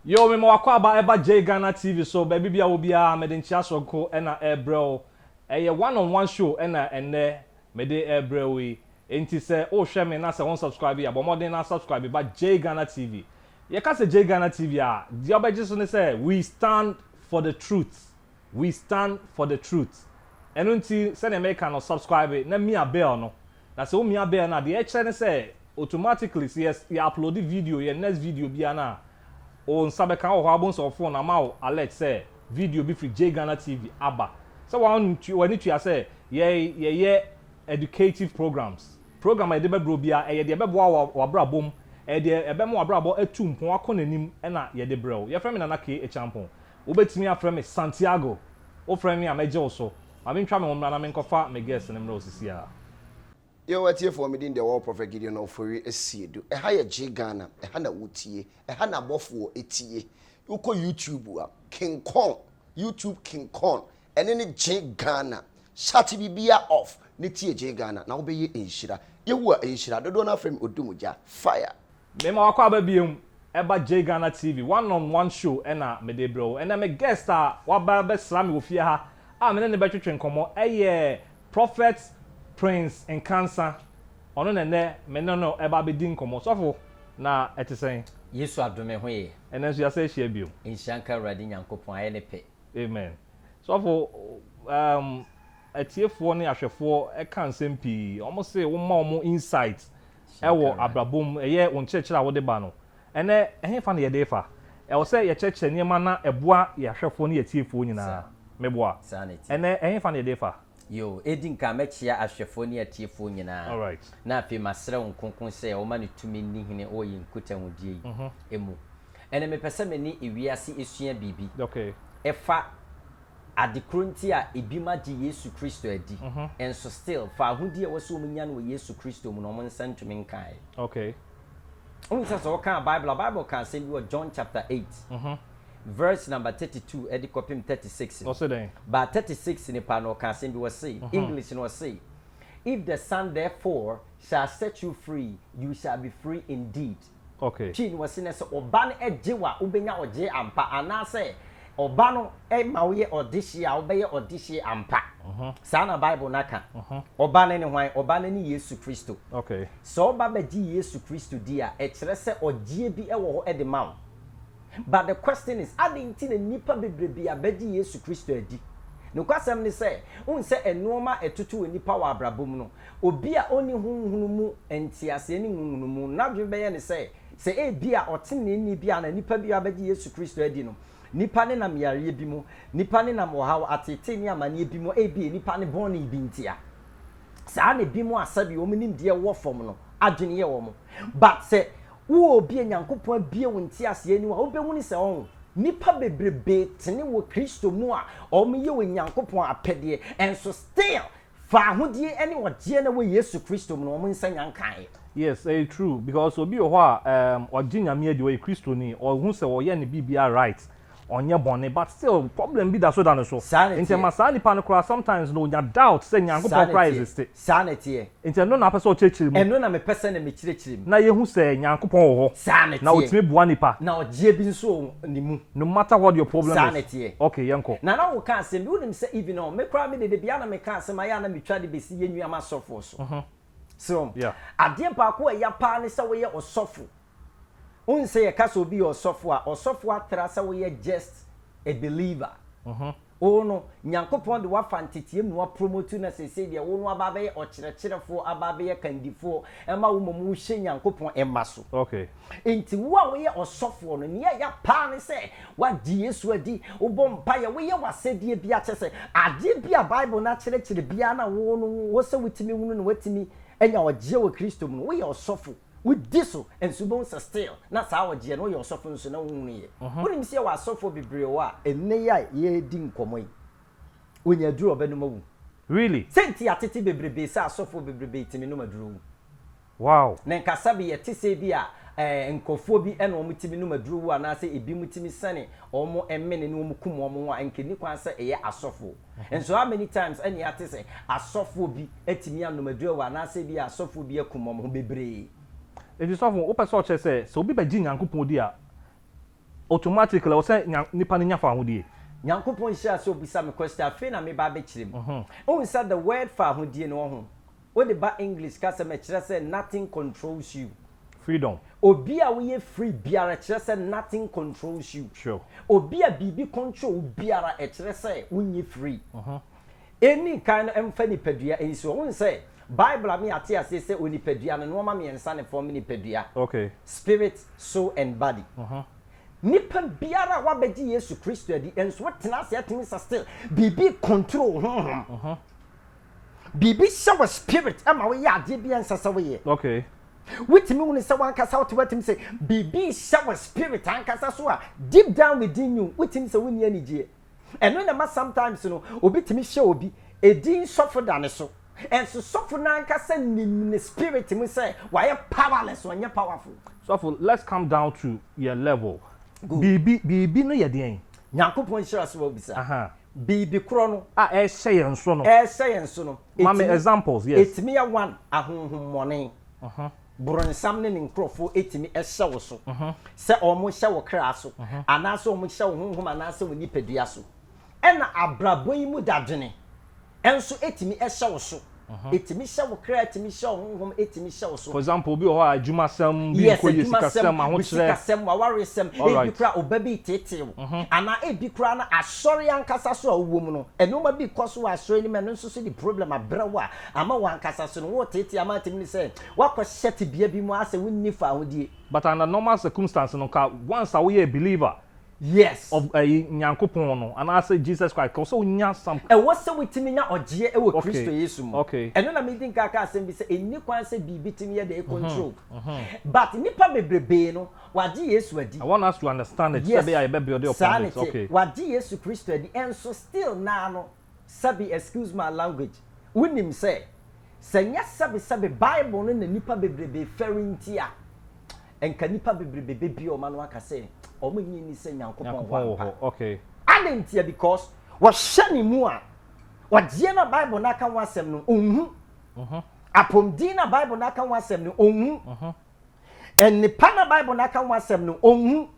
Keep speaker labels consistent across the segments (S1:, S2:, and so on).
S1: Yoo mema w'akwaaba ɛba Jay Ghana TV so baabi bia wɔ biara mede nkyea soronko ɛna ɛrebrɛ wo ɛyɛ one on one show ɛna ɛnnɛ mede ɛrebrɛ wo yi ɛnti sɛ wohwɛ me na sɛ won subscribe a bɔ mmɔden na subscribe ba Jay Ghana TV yɛka sɛ Jay Ghana TV a deɛ wobɛgye so ne sɛ we stand for the truth we stand for the truth ɛno nti sɛdeɛ meka no subscribe na mia bell no Na sɛ omia bɛɛ no a, deɛ ɛkyerɛ ne sɛ automatically sɛ yɛ yɛ upload video, yɛn next video biara no a, wo nsa bɛka wɔ hɔ a wobɛhu sɛ wo phone ama wo alert sɛ video bi firi JGhana TV aba. Sɛ w'antua w'ani tua sɛ yɛ yɛyɛ educative programs. Program a yɛde bɛbrɛ wo biara, ɛyɛ deɛ ɛbɛboa wo wɔ w'abrabɔ mu, ɛyɛ deɛ ɛbɛma w'abrabɔ atu mpɔn akɔ n'anim na yɛde brɛ wo. Yɛfrɛ me Nana K. Acheampong. Wobɛtumi afrɛ me Santiago. Wofrɛ me a mɛgye wo so. Ma mentwa me ho mmra na menkɔfa me guest no mmra osisi a. Yo
S2: atiefoɔ me din deɛ ɔɔ Prophet Gideon Ofori Asiedu ɛha yɛ Gye Ghana ɛha na wo tie ɛha na abɔfoɔ tie wo kɔ YouTube a King Kong YouTube King Kong ɛne ne Gye Ghana shut bibia off ne tie Gye Ghana na wo bɛyɛ nhyira Yehowa nhyira dodoɔ no afrɛ me Odum Gya fire. Mema wo akwaaba
S1: biom ɛba Jay Ghana TV one on one show na mede brɛ wo. Ɛnɛ me guest a waba bɛsra me wɔ fie ha a me ne no bɛtwetwe nkɔmmɔ ɛyɛ Prophet Prince Nkansah. Ɔno na ɛnɛ me ne no ɛba bɛdi nkɔmmɔ. Sɔfo, na ɛte sɛn? Yesu adom ɛho
S3: yɛ. Ɛnɛ nso yɛasan ahyia biom.
S1: Nhyira nka Awurade
S3: Nyankopɔn, ayɛ ne pɛ. Amen.
S1: Sɔfo, um, atiefoɔ ne ahwɛfoɔ ɛka nsɛm pii. Wɔn se woma wɔn insight wɔ abrabɔ mu, ɛyɛ wo nkyerɛkyerɛ a wode ba no. Ɛnnɛ, ɛhefa na yɛde refa? Ɛwɔ sɛ yɛkyerɛkyerɛ nneɛma na ɛboa yɛn ahwɛfoɔ ne yɛn atiefoɔ nyinaa. Meboa? Ɛnnɛ, ɛhefa na yɛde refa? Yiw, edi nkan
S3: mɛkyea ahwɛfoɔ ne atiefoɔ nyinaa, na afei
S1: masrɛ wɔn
S3: kronkron sɛ wɔmma ne tumi nni hene wɔ yɛn nkutahodie yi mu. Ɛnnɛ, mepɛ sɛ me ne ewiase sua biribi fa Ade koro nti a ebi ma gye Yesu Kristo adi nso still faahodi a ɛwɔ sɛ wɔnya no wɔ Yesu Kristo mu no wɔn nsa ntumi nkaeɛ. Okay.
S1: Wohu sɛ
S3: sɛ wokaa Bible a, Bible ka asɛm bi wɔ John chapter eight verse number thirty two de kɔpem thirty six no. Ɔse dɛn? But
S1: thirty six no
S3: paa no ɔka asɛm bi ɔse, English no ɔse, If the Son therefore shall set you free, you shall be free indeed. Ok. Pii no
S1: wɔse nɛ sɛ
S3: ɔba no gye wo a wobɛnya ɔgyee ampa anaasɛ ɔba no ma woyɛ ɔdehyeɛ a wobɛyɛ ɔdehyeɛ ampa. Saa na Bible no ka. Ɔba no ne hwan? Ɔba no ne Yesu Kristo. Ok. Sɛ ɔba
S1: bɛgye
S3: Yesu Kristo di a, ɛkyerɛ sɛ ɔgyeɛ bi wɔ hɔ de ma wo. But the question is, adɛn nti na nnipa bebrebe abɛgye Yesu Kristo adi? Nokwasɛm ne sɛ, wohu sɛ nnoɔma a ɛtoto onipa wɔ abrabɔ mu no, Obi a onni honhom mu nteaseɛ ne nhunumu no, n'adwene bɛyɛ no sɛ, sɛ ebia ɔteneneeni bi anaa nipa bi abɛgye Yesu Kristo adi no, nnipa nenam yareɛ bi mu, nnipa nenam ɔhaw, ateetee ne amaneɛ bi mu, ebia nnipa ne bɔne bi ntia. Saa na ebinom a sɛdeɛ wɔn nimdeɛ wɔ fam no adwene yɛ wɔn. But sɛ wowɔ obi a Nyankopɔn abue wo nteaseɛ anim a, wobɛhunu sɛ ɔho. Nnipa bebrebee tene wɔ Kristo mu a wɔyɛ Onyankopɔn apɛdeɛ, nso still Fa ahodie ɛne ɔgyeɛ na wɔ Yesu Kristo mu na wɔn nsa nya nkaeɛ. Yes ɛyɛ true
S1: because obi wɔ hɔ a um, ɔgye nyame adi ɔyɛ kristoni ɔhu sɛ ɔyɛ ne biribia right ɔnyɛ bɔne but still problem bi da so da ne so Saa na nti ɛma ɛteɛ. saa nipa no koraa sometimes no ɔnya doubt sɛ Saa nyankopɔn na koraa ɛteɛ. existe Saa na ɛteɛ. nti
S3: ɛno na apɛ sɛ
S1: ɔkyerɛkyerɛ mu Ɛno na mepɛ sɛ na
S3: mekyerɛkyerɛ mu. na yɛhu sɛ
S1: nyankopɔn wɔ hɔ Saa na na ɛteɛ. ɔtumi boa
S3: nipa.
S1: Na ɔgyeɛ bi nso
S3: wɔ mu. ne mu. No matter what your problem
S1: is. Saa na ɛteɛ. Okay, yɛnkɔ.
S3: Nana
S1: wo ka asɛm bi, wo
S3: nim sɛ even ɔ, me koraa me de dabi a na me ka asɛm a yɛ a na me twa de bɛsi yɛn nua m'asɔfoɔ so. So wɔn. Yeah. Adeɛ
S1: baako a ɛya
S3: paa ne sɛ wo yɛ ɔsɔfo. Wo nim sɛ yɛ ka sɛ obi yɛ ɔsɔfo a, ɔsɔfo atra sɛ wo yɛ just a believer. O no, Nyankopɔn de wo afa nteteɛm mu apromotu na seesei deɛ wo no aba abɛyɛ ɔkyerɛkyerɛfoɔ, aba abɛyɛ kandifoɔ, ɛma wo mmom wo hyɛ Nyankopɔn mma so. Enti
S1: wo a wo
S3: yɛ ɔsɔfoɔ no, nea ɛyɛ paa ne sɛ woagye Yesu adi, wo bɔ mpaeɛ, wo yɛ w'asɛdeɛ biara, kyerɛ sɛ adeɛ bi a Bible no akyerɛkyerɛ biara na wo no wo sɛ wo tumi hunu na woatumi anya ɔgyeɛ wɔ Kristo mu no, wo yɛ ɔsɔfo. Wodi so nso bohu sɛ still na saa ɔgyeɛ no woyɛ ɔsɔfo nso na wonhunu yɛ. Wonim sɛ yɛwɔ asɔfoɔ bebree hɔ a ɛnnɛ yi a yɛredi nkɔmmɔ yi ɔnya aduro a ɔbɛnom awu. Really? Sɛ nti
S1: a tete
S3: bebrebee sɛ asɔfoɔ bebrebee timi nom aduro wu. Wow.
S1: Na nkasa bi
S3: yɛte sɛ bi a eh, nkurɔfoɔ bi ɛna wɔn timi nom aduro wu anaasɛ ebinom timi sɛne wɔn mmene ne wɔn kum wɔn ho a nka ɛnni kwan sɛ ɛyɛ asɔfoɔ. Nso how many times na yɛate sɛ asɔfoɔ bi atumi anom aduro awu anaasɛ ebia asɔfoɔ bi akum wɔn ho bebree.
S1: Enti sɔfo, wopɛ sɛ ɔkyerɛ sɛ, sɛ
S3: obi
S1: bɛgye Nyankopɔn di a, automatically ɛwɔ sɛ nnipa no nya fahodie? Nyankopɔn nhyira
S3: sɛ obisa me question afei na meba abɛkyerɛ mu. Wohu sɛ the word fahodie no, wɔ ho? Wode ba English kasam ɛkyerɛ sɛ nothing controls you. Freedom.
S1: Obi a woyɛ
S3: free biara kyerɛ sɛ nothing controls you. Sure. Obi a
S1: biribi
S3: control wo biara ɛkyerɛ sɛ wonyɛ free. Ɛnni kan no ɛmfa nipadua ɛnsi hɔ. Wohu sɛ Bible ama yɛate aseɛ sɛ onipadua no nnoɔma mmiɛnsa na ɛfɔɔme nipadua. Okay. Spirit,
S1: soul
S3: and body. Nipa biara a wabɛgye Yesu Kristo adi nso wotena ase ɛtumi sɛ still biribi control wo honhom. Biribi hyɛ wo spirit ma woyɛ adeɛ bi a ɛnsɛ sɛ woyɛ. Okay.
S1: Wotumi hunu
S3: sɛ wankasa wote watumi sɛ biribi hyɛ wo spirit ankasa so a deep down within you wotumi sɛ wonni anigyeɛ. Ɛno na ɛma sometimes no obi tumi hyɛ obi edin sɔfo da ne so nso sɔfo no ankasa nim ne spirit mu sɛ wayɛ powerless ɔnyɛ powerful. Sɔfo let's come
S1: down to yɛ level. Biribi biribi no yɛ deɛn? Nyankopɔn nhyira so
S3: a wobisa. Aha. Biribi korɔ no a ɛrehyɛ yɛn so
S1: no. Ɛrehyɛ yɛn so no. Ma me examples, yes. Ɛtumi yɛ one,
S3: ahonhommɔne, boronsam ne ne nkorɔfoɔ tumi hyɛ wo so sɛ wɔrehyɛ wo kra so anaasɛ wɔrehyɛ wo honhom anaasɛ wo nipadua so. Ɛna abrabɔ yi mu dadwene nso tumi hyɛ wo so. Ɛtumi hyɛ wo kra, ɛtumi hyɛ wo honhom, ɛtumi hyɛ wo so. For example, obi wɔ hɔ a adwumasɛm
S1: bi yes, nkɔ yie, sikasɛm, ahokyerɛ. Sikasɛm, wawaresɛm,
S3: ebi kora ɔba bi tetee wo. Anaa ebi kora no asɔre ankasa so a wowɔ mu no, nneɛma bi kɔ so wɔ asɔre no mu, ɛno nso so de problem abrɛ wo a, ama wo ankasa so no wotetee ama atumi ne sɛ woakɔhyɛ tebea bi mu a sɛ wonni fahodie. But under normal
S1: circumstance no, nka once a woyɛɛ believer, Yes. Of
S3: ɛyi
S1: Nyankopɔn no anaasɛ Jesus Christ kɔ sɛ onya some. Ɛwɔ sɛ wotumi nya
S3: ɔgyeɛ ɛwɔ Kristo Yesu mu. Okay. Okay. Ɛno na medi nka
S1: aka asɛm
S3: bi sɛ ɛnni kwan sɛ biribi tumi yɛ dɛn control. But nnipa bebrebee no wagye Yesu adi. I want us to understand
S1: it sɛdeɛ a yɛbɛ build upon it. Yes. Saa ne te. Okay. Wagye Yesu Kristo
S3: adi ɛnso still naa no Sɛbe, excuse my language, wunim sɛ, sɛ nyɛ sɛbe sɛbe Bible no na nnipa bebrebe fɛre nti a, anka nnipa bebrebe bebue wɔn ano aka sɛ wɔnnye nni sɛ Nyankopɔn wɔ hɔ ampa. Adɛn
S1: ntia? Because
S3: wɔhwɛ ne mu a, ɔgyeɛ no a Bible no aka ho asɛm no, ɔnhu. Apɔmuden no a Bible no aka ho asɛm no, ɔnhu. Nnipa na Bible no aka ho asɛm no, onhu.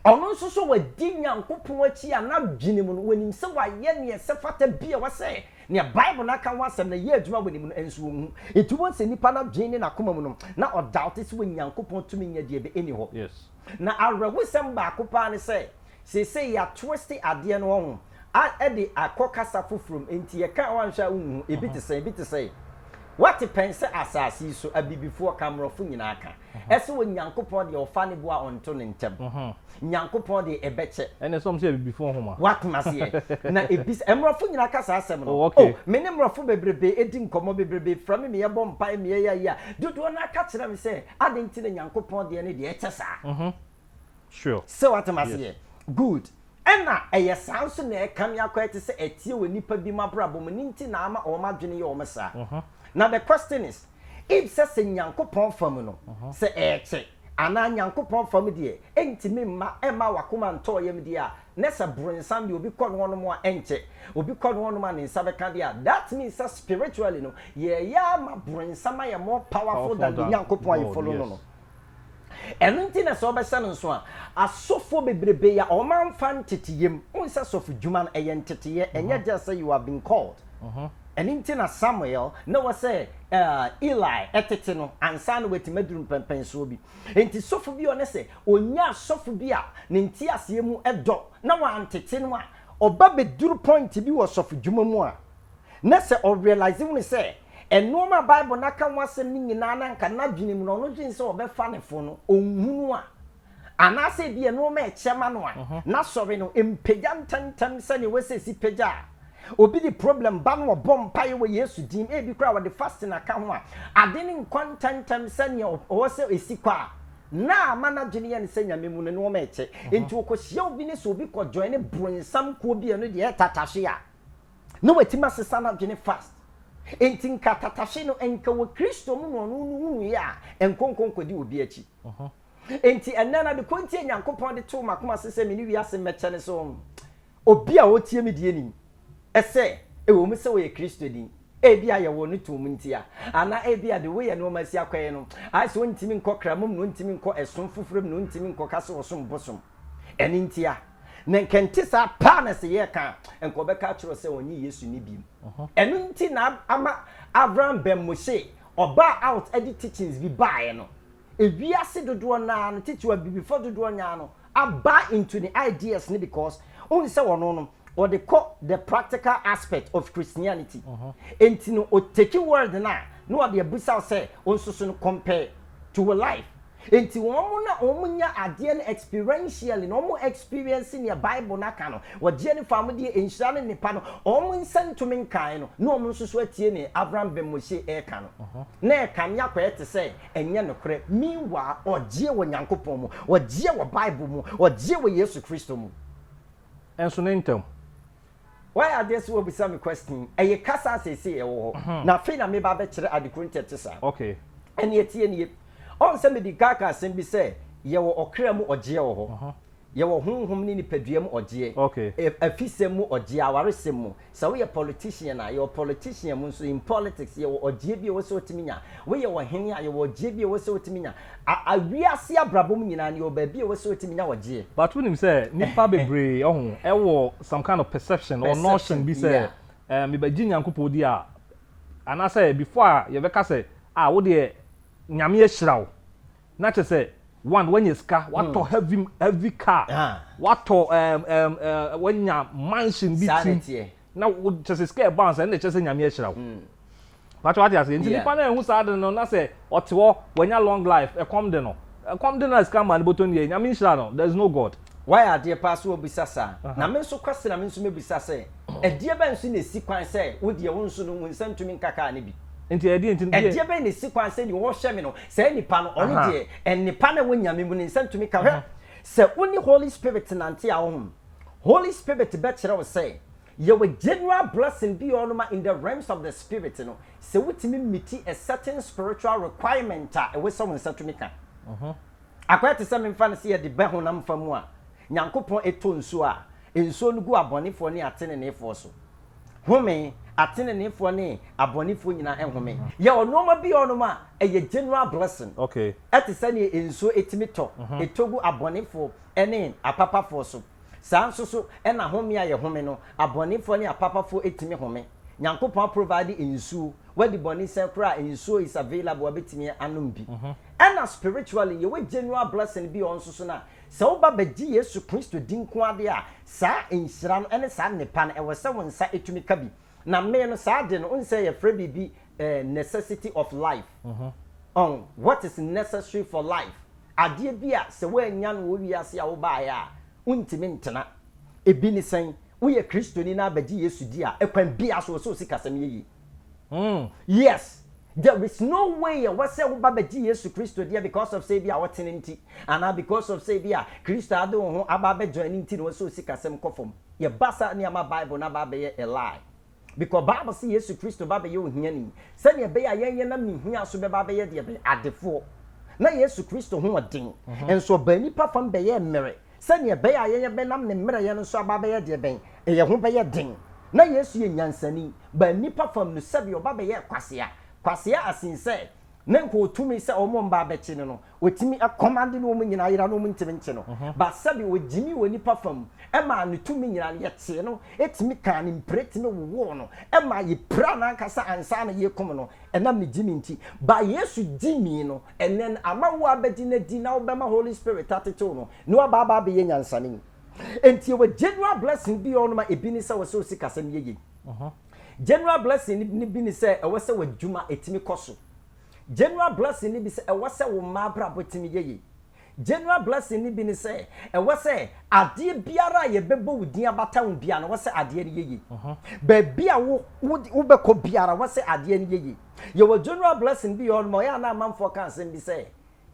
S3: Ɔno nso so wadi Nyankopɔn akyi a n'adwene mu no, onim sɛ wayɛ nea ɛsɛ fata bi a ɛwɔ sɛ nea Bible no aka ho asɛm no yɛ adwuma wɔ ne mu no, nso onhu. Enti wohu sɛ nipa no adwene ne n'akoma mu no, na ɔdaote sɛ Onyankopɔn tumi nyɛ deɛ ɛbɛ nni hɔ. Na
S1: awerɛhosɛm
S3: baako paa ne sɛ, seesei yɛatwiste adeɛ no hɔhom. a de akɔ kasa foforo mu, enti yɛka a woanhwɛ a wunhu, ebi te sɛn, ebi te sɛn. Woate pɛn sɛ asase yi so abibifoɔ ka, mmorɔfo nyinaa ka. Ɛse wɔ Nyankopɔn deɛ ɔfa ne bo a ɔnto no ntɛm. Nyankopɔn deɛ ɛbɛkyɛ. Ɛnna ɛsɛ wɔn sɛ abibifoɔ
S1: nhoma. Woate maseɛ?
S3: Na ɛbisa, mmorɔfo nyinaa ka saa asɛm no. O, me ne mmorɔfo bebrebee di nkɔmmɔ, bebrebee frɛ me ma yɛbɔ mpaeɛ, ma yɛyɛ ayi a, dodoɔ no ara ka kyerɛ me sɛ, adɛn nti na Nyankopɔn deɛ no deɛ ɛkyɛ saa?
S1: Sɛ woate
S3: maseɛ? Good. Ɛna ɛyɛ saa nso na ɛka me akɔ ɛte sɛ ɛteɛ wɔ nnipa bi mu abrabɔ mu ne nti na ama wɔn adwene yɛ wɔn saa. Na the question is if sɛ sɛ Nyankopɔn fa mu no sɛ ɛɛkye anaa Nyankopɔn fa mu deɛ ɛntumi mma ɛmma wakoma ntɔɔ yam deɛ a na sɛ bronsam deɛ obi kɔ no hɔnom a ɛnkyɛ obi kɔ no hɔnom a ne nsa bɛka deɛ a that means sɛ spiritually no yɛɛyɛ ama bronsam ayɛ more powerful than the Nyankopɔn a yɛ follow no no. Ɛno nti na sɛ ɔbɛhyɛ no nso a, asɔfoɔ bebrebe yi a wɔamfa nteteyɛ mu, wohu sɛ sɔfodwuma no, ɛyɛ nteteyɛ, ɛnyɛ just sɛ you have been called. Ɛno nti na Samuel, na ɛwɔ sɛ Eli tete no ansa na watumi aduru mpɛnpɛnsoɔ bi. Enti sɔfo bi a ɔne sɛ ɔnya asɔfo bi a ne nteaseɛ mu dɔ na wantete no a, ɔba bɛduru point bi wɔ sɔfodwuma mu a, Na sɛ ɔrealise hunu sɛ nnoɔma a Bible no aka ho asɛm no nyinaa no anka n'adwene mu na ɔno dwene sɛ ɔbɛfa ne fo no, ɔnhunu a, anaasɛ ebia nnoɔma a ɛkyɛ ma no a, n'asɔre no mpagya ntɛmntɛm sɛdeɛ ɛwɔ sɛ ɛsi pagya a. Obi de problem ba na ɔbɔ mpaeɛ wɔ Yesu din mu, ebi koraa ɔde fasting aka ho a, ade no nkɔ ntɛmntɛm sɛdeɛ ɔwɔ sɛ ɛsi kɔ a, na ama n'adwene yɛ no sɛ Nyame mu no nnoɔma ɛkyɛ. Enti ɔkɔhyia obi ne sɛ obi kɔ joine bronsam kuo bi a ɛno deɛ ɛyɛ tatahwe a, na watumi asesa n'adwene fast. Enti nka tatahwe no nka wɔ Kristo mu na ɔno no hunuiɛ a, nkonko nkɔdi obi akyi. Enti ɛnnɛ no adekorɔ nti a Nyankopɔn de too m'akoma ase sɛ me ne wiase mmɛkyɛ ne sɛ obi a ɔtie me deɛ nim sɛ ɛwɔ mu sɛ ɔyɛ Kristoni, ebia yɛwɔ no toom nti a, anaa ebia deɛ woyɛ nnoɔma asi akɔ yi no ayɛ sɛ ɔntumi nkɔ kramom na ɔntumi nkɔ ɛsom foforɔ mu na ɔntumi nkɔka sɛ ɔsom bosom ɛno nti a. Na nka ɛnte saa paa na sɛ yɛreka a, nka wɔbɛka akyerɛ wo sɛ ɔnyɛ Yesu no bi. Ɛno nti na ama Avram Ben Moshe, ɔbaa out de teachings bi baeɛ no, ewiase dodoɔ no ara no, tete abibifoɔ dodoɔ no ara no abuy into ne ideas no because wohu sɛ ɔno no, ɔde kɔ the practical aspect of Christianity. Enti no, ɔtake word no a, na ɔde abusa wo sɛ wo nso so no compare to wo life. Enti wɔn na wɔnya adeɛ no experientially, na wɔn experience nea Bible no aka no, wɔgyeɛ no faa mu deɛ nhyira ne nnepa no, wɔn nsa ntumi nkae no, na wɔn nso so atie nea Avram ben Moshe reka no. Na ɛkame akɔyɛ te sɛ ɛnyɛ nokorɛ, meanwhile wɔgyeɛ wɔ Nyankopɔn mu, wɔgyeɛ wɔ Bible mu, wɔgyeɛ wɔ Yesu Kristo mu. Nso
S1: ne ntɛm, Wayɛ
S3: adeɛ sɛ wabisa me question. Ɛyɛ kasa a seesei ɛwɔ hɔ, na afei na mereba abɛkyerɛ ade koro nti ɛte saa. Ɛnneɛ
S1: tie nie.
S3: Ɔhu sɛ mede ka ka asɛm bi sɛ yɛwɔ ɔkra mu ɔgyeɛ wɔ hɔ, yɛwɔ honhom ne nipadua mu ɔgyeɛ, afisɛm
S1: mu
S3: ɔgyeɛ, awaresɛm mu. Sɛ woyɛ politician a, yɛwɔ politician mu nso. In politics, yɛwɔ ɔgyeɛ bi a ɛwɔ sɛ wotumi nya. Woyɛ ɔhene a, yɛwɔ ɔgyeɛ bi a ɛwɔ sɛ wotumi nya. A a Wiase abrabɔ mu nyinaa no, yɛwɔ baabi a ɛwɔ sɛ yɛtumi nya ɔgyeɛ. But wonim sɛ
S1: nnipa bebree ɔho ɛwɔ some kind of perception or notion bi sɛ ɛɛ mebɛgye Nyankopɔn di a anaasɛ before a yɛbɛka sɛ ah wo deɛ Nyame ahyira wo na kyerɛ sɛ one wanya sika watɔ heavy heavy car watɔ ɛɛm ɛɛm ɛɛm wanya mansion bi ti. na wo kyɛ sɛ sika ɛbounce ɛnna ɛkyɛ sɛ nyame ahyira wo pàtó wate ase nti nipa náà ehu saa de no na sɛ ɔte hɔ wanya long life ɛkɔm de no ɛkɔm de no na sika maa ne bɔtɔ nie nyame nhyira no there is no god. Wayɛ adeɛ paa sɛ
S3: wabisa saa. Na me nso Kwasi na me nso mɛbisa sɛ, ɛdeɛ bɛn nso na ɛsi kwan sɛ wo deɛ wo nso no wo nsa ntumi nka kaa no bi? Nti ɛdeɛ nti no deɛ.
S1: Ɛdeɛ bɛn na ɛsi kwan
S3: sɛ deɛ ɔrehwɛ me no, saa nipa no, ɔno deɛ nnepa no a ɛwɔ Nyame mu no ne nsa ntumi ka. Hwɛ, sɛ wo ne Holy Spirit nante a, ɔhom, Holy Spirit bɛkyerɛ wo sɛ yɛwɔ general blessing bi a ɔnoma in the realms of the spirit no, sɛ wotumi miti a certain spiritual requirement a ɛwɔ sɛ wo nsa tumi ka. Akɔyɛ te sɛ memfa no sɛ yɛde bɛ honam fa mu a Nyankopɔn ɛtɔ nsuo a, nsuo no gu abɔnefoɔ ne ateneneefoɔ so. Home, ateneneefoɔ ne abɔnefoɔ nyinaa ɛhome. Yɛwɔ nnoɔma bi a ɔnoma a ɛyɛ general blessing. Ɛte sɛ
S1: neɛ
S3: nsuo ɛtumi tɔ, ɛtɔ gu abɔnefoɔ ne apapafoɔ so. Saa nso so na home a yɛhome no, abɔnefoɔ ne apapafoɔ ɛtumi home. Nyankopɔn a provide nsuo, wadi bɔne sɛn koraa a nsuo is available a bɛtumi anom bi. Ɛna spiritually yɛwɔ genual blessing bi a ɔno nso so no a, sɛ woba bɛgye Yesu Kristo di nko ara deɛ a, saa nhyira no ne saa nnepa no ɛwɔ sɛ wo nsa ɛtumi ka bi. Na me no saa ade no, wohu sɛ yɛfrɛ biribi eh, necessity of life. Ɔn, what is necessary for life? Adeɛ bi a sɛ woannya no wɔ wiase a wobaeɛ a, wontumi ntena. Ebi ne sɛn? Woyɛ Kristoni na abɛgye Yesu di a, kwan biara so, ɛwɔ sɛ wo sikasɛm yɛ yie. Yes, there is no way ɛwɔ sɛ woba bɛgye Yesu Kristo deɛ because of sɛ ebi a wotene nti, anaa because of sɛ ebi a Kristo a wode wo ho aba abɛjoine nti na ɛwɔ sɛ wo sikasɛm kɔ fam. Yɛ ba saa ne ama bible no aba abɛyɛ a lie because bible se yesu kristo ba bɛyɛ ohiani sɛnea ɛbɛyɛ a yɛn yɛnam ne hia so bɛba abɛyɛ deɛ bɛn? adefoɔ. Na yesu kristo ho wɔ den nso ɔbaa nnipa fam bɛyɛɛ mmere sɛnea ɛbɛyɛ a yɛn yɛbɛnam ne mmerɛyɛ no so aba abɛyɛ deɛ bɛn? yɛn ho bɛyɛ den. Na yesu yɛ nyansani baa nnipa fam no sɛdeɛ ɔba bɛyɛɛ kwasea, kwasea as in sɛ Na nka otumi sɛ wɔn mma abɛkye no no, otumi kɔmande na wɔn nyinaa yera na wɔn ntumi nkye no. But sɛbe ogyimii wɔ nnipa fa mu maa ne tumi nyinaa no, yɛkyee no, tumi kaa ne mpreti no wowoo no, maa yepiraa n'ankasa ansa na yekum no, ɛnam ne gyimii nti. But Yesu gyimii no, and then ama woabɛgye no adi na wobɛma Holy Spirit atetew no na waba aba abɛyɛ nyansani. Enti yɛwɔ general blessing bi a ɔnom a ebi ne sɛ ɔsɛ osikasɛm yɛ yie. General blessing no bi ne sɛ ɛwɔ sɛ w'adwuma tumi kɔ so. General blessing no bi sɛ ɛwɔ sɛ wo mma abrabɔ tumi yɛ yie. General blessing no bi ne sɛ ɛwɔ sɛ adeɛ biara a yɛbɛbɔ wo din abata ho biara no ɛwɔ sɛ adeɛ no yɛ yie. Baabi a wo wo wobɛkɔ biara ɛwɔ sɛ adeɛ no yɛ yie. Yɛwɔ general blessing bi wɔ hɔ nom a ɔyɛ a na amanfoɔ ka asɛm bi sɛ